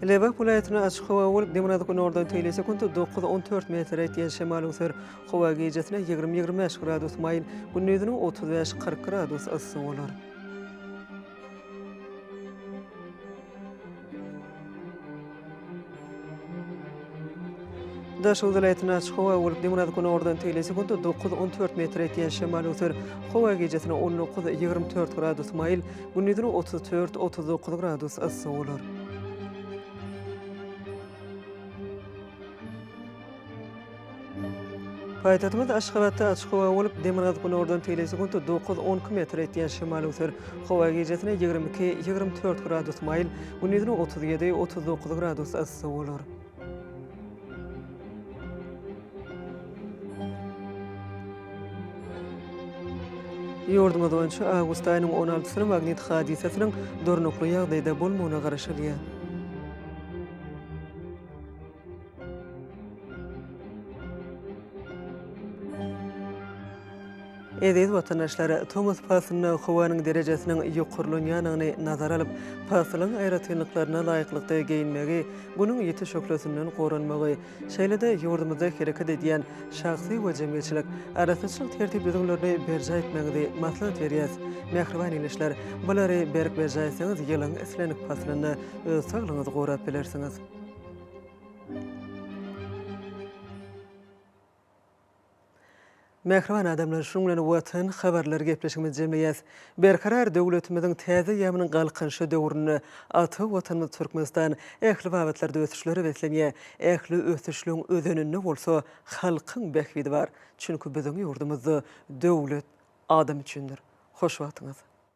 Lebap welaýatyna açyk howa bolup, demirgazyk günordan teýle sekuntda dokuz, on dört metr etýän şemal öwser. Howa gijesine ýigrimi, ýigrimi bäş gradus maýyl, gündiziniň otuz bäş, kyrk gradus yssy bolar. Daşoguz welaýatynda açyk howa bolup, Demirgazyk günordan tegelýär, sekuntda dokuz, on dört metr ýetýän şemal öser. Howa gijesine on dokuz, ýigrimi dört gradus maýyl, gündizine otuz dört, otuz dokuz gradus yssy bolar. Paýtagtymyz Aşgabatda açyk howa bolup, demirgazyk günordan teýle sekunt dokuz, on iki metr etýän şemal öwser. Howa gijesine ýigrimi iki, ýigrimi dört gradus maýyl, gündizine otuz ýedi, otuz dokuz gradus yssy bolar. Ýurdumyz boýunça awgust aýynyň on altysyna magnit hadysasynyň durnukly ýagdaýda bolmagyna garaşylýar. Eziz watandaşlar, tomus paslynda howanyň derejesiniň ýokarlanýandygyny nazara alyp, paslyň aýratynlyklaryna laýyklykda geýinmegi, Günüň ýiti şöhlesinden goranmagy, şeýle-de ýurdumyzda hereket edýän şahsy we jemgyýetçilik arassaçylyk tertip-düzgünlerini berjaý etmegiňizi maslahat berýäs. Mähriban ildeşler, bulary berk berjaý etseňiz, ýylyň islendik paslynda öz saglygyňyzy gorap bilersiňiz. Mähriban adamlar, şunuň bilen Watan habarlary gepleşigimizi jemleýäs. Berkarar döwletimiziň täze ýabynyň Galkynyşy döwründe ata Watanymyz Türkmenistan ähli babatlarda ösüşlere beslenýär. Ähli ösüşligiň özeninde bolsa halkyň bähbidi bar. Çünki biziň ýurdumyzda döwlet adam üçindir. Hoş wagtyňyz.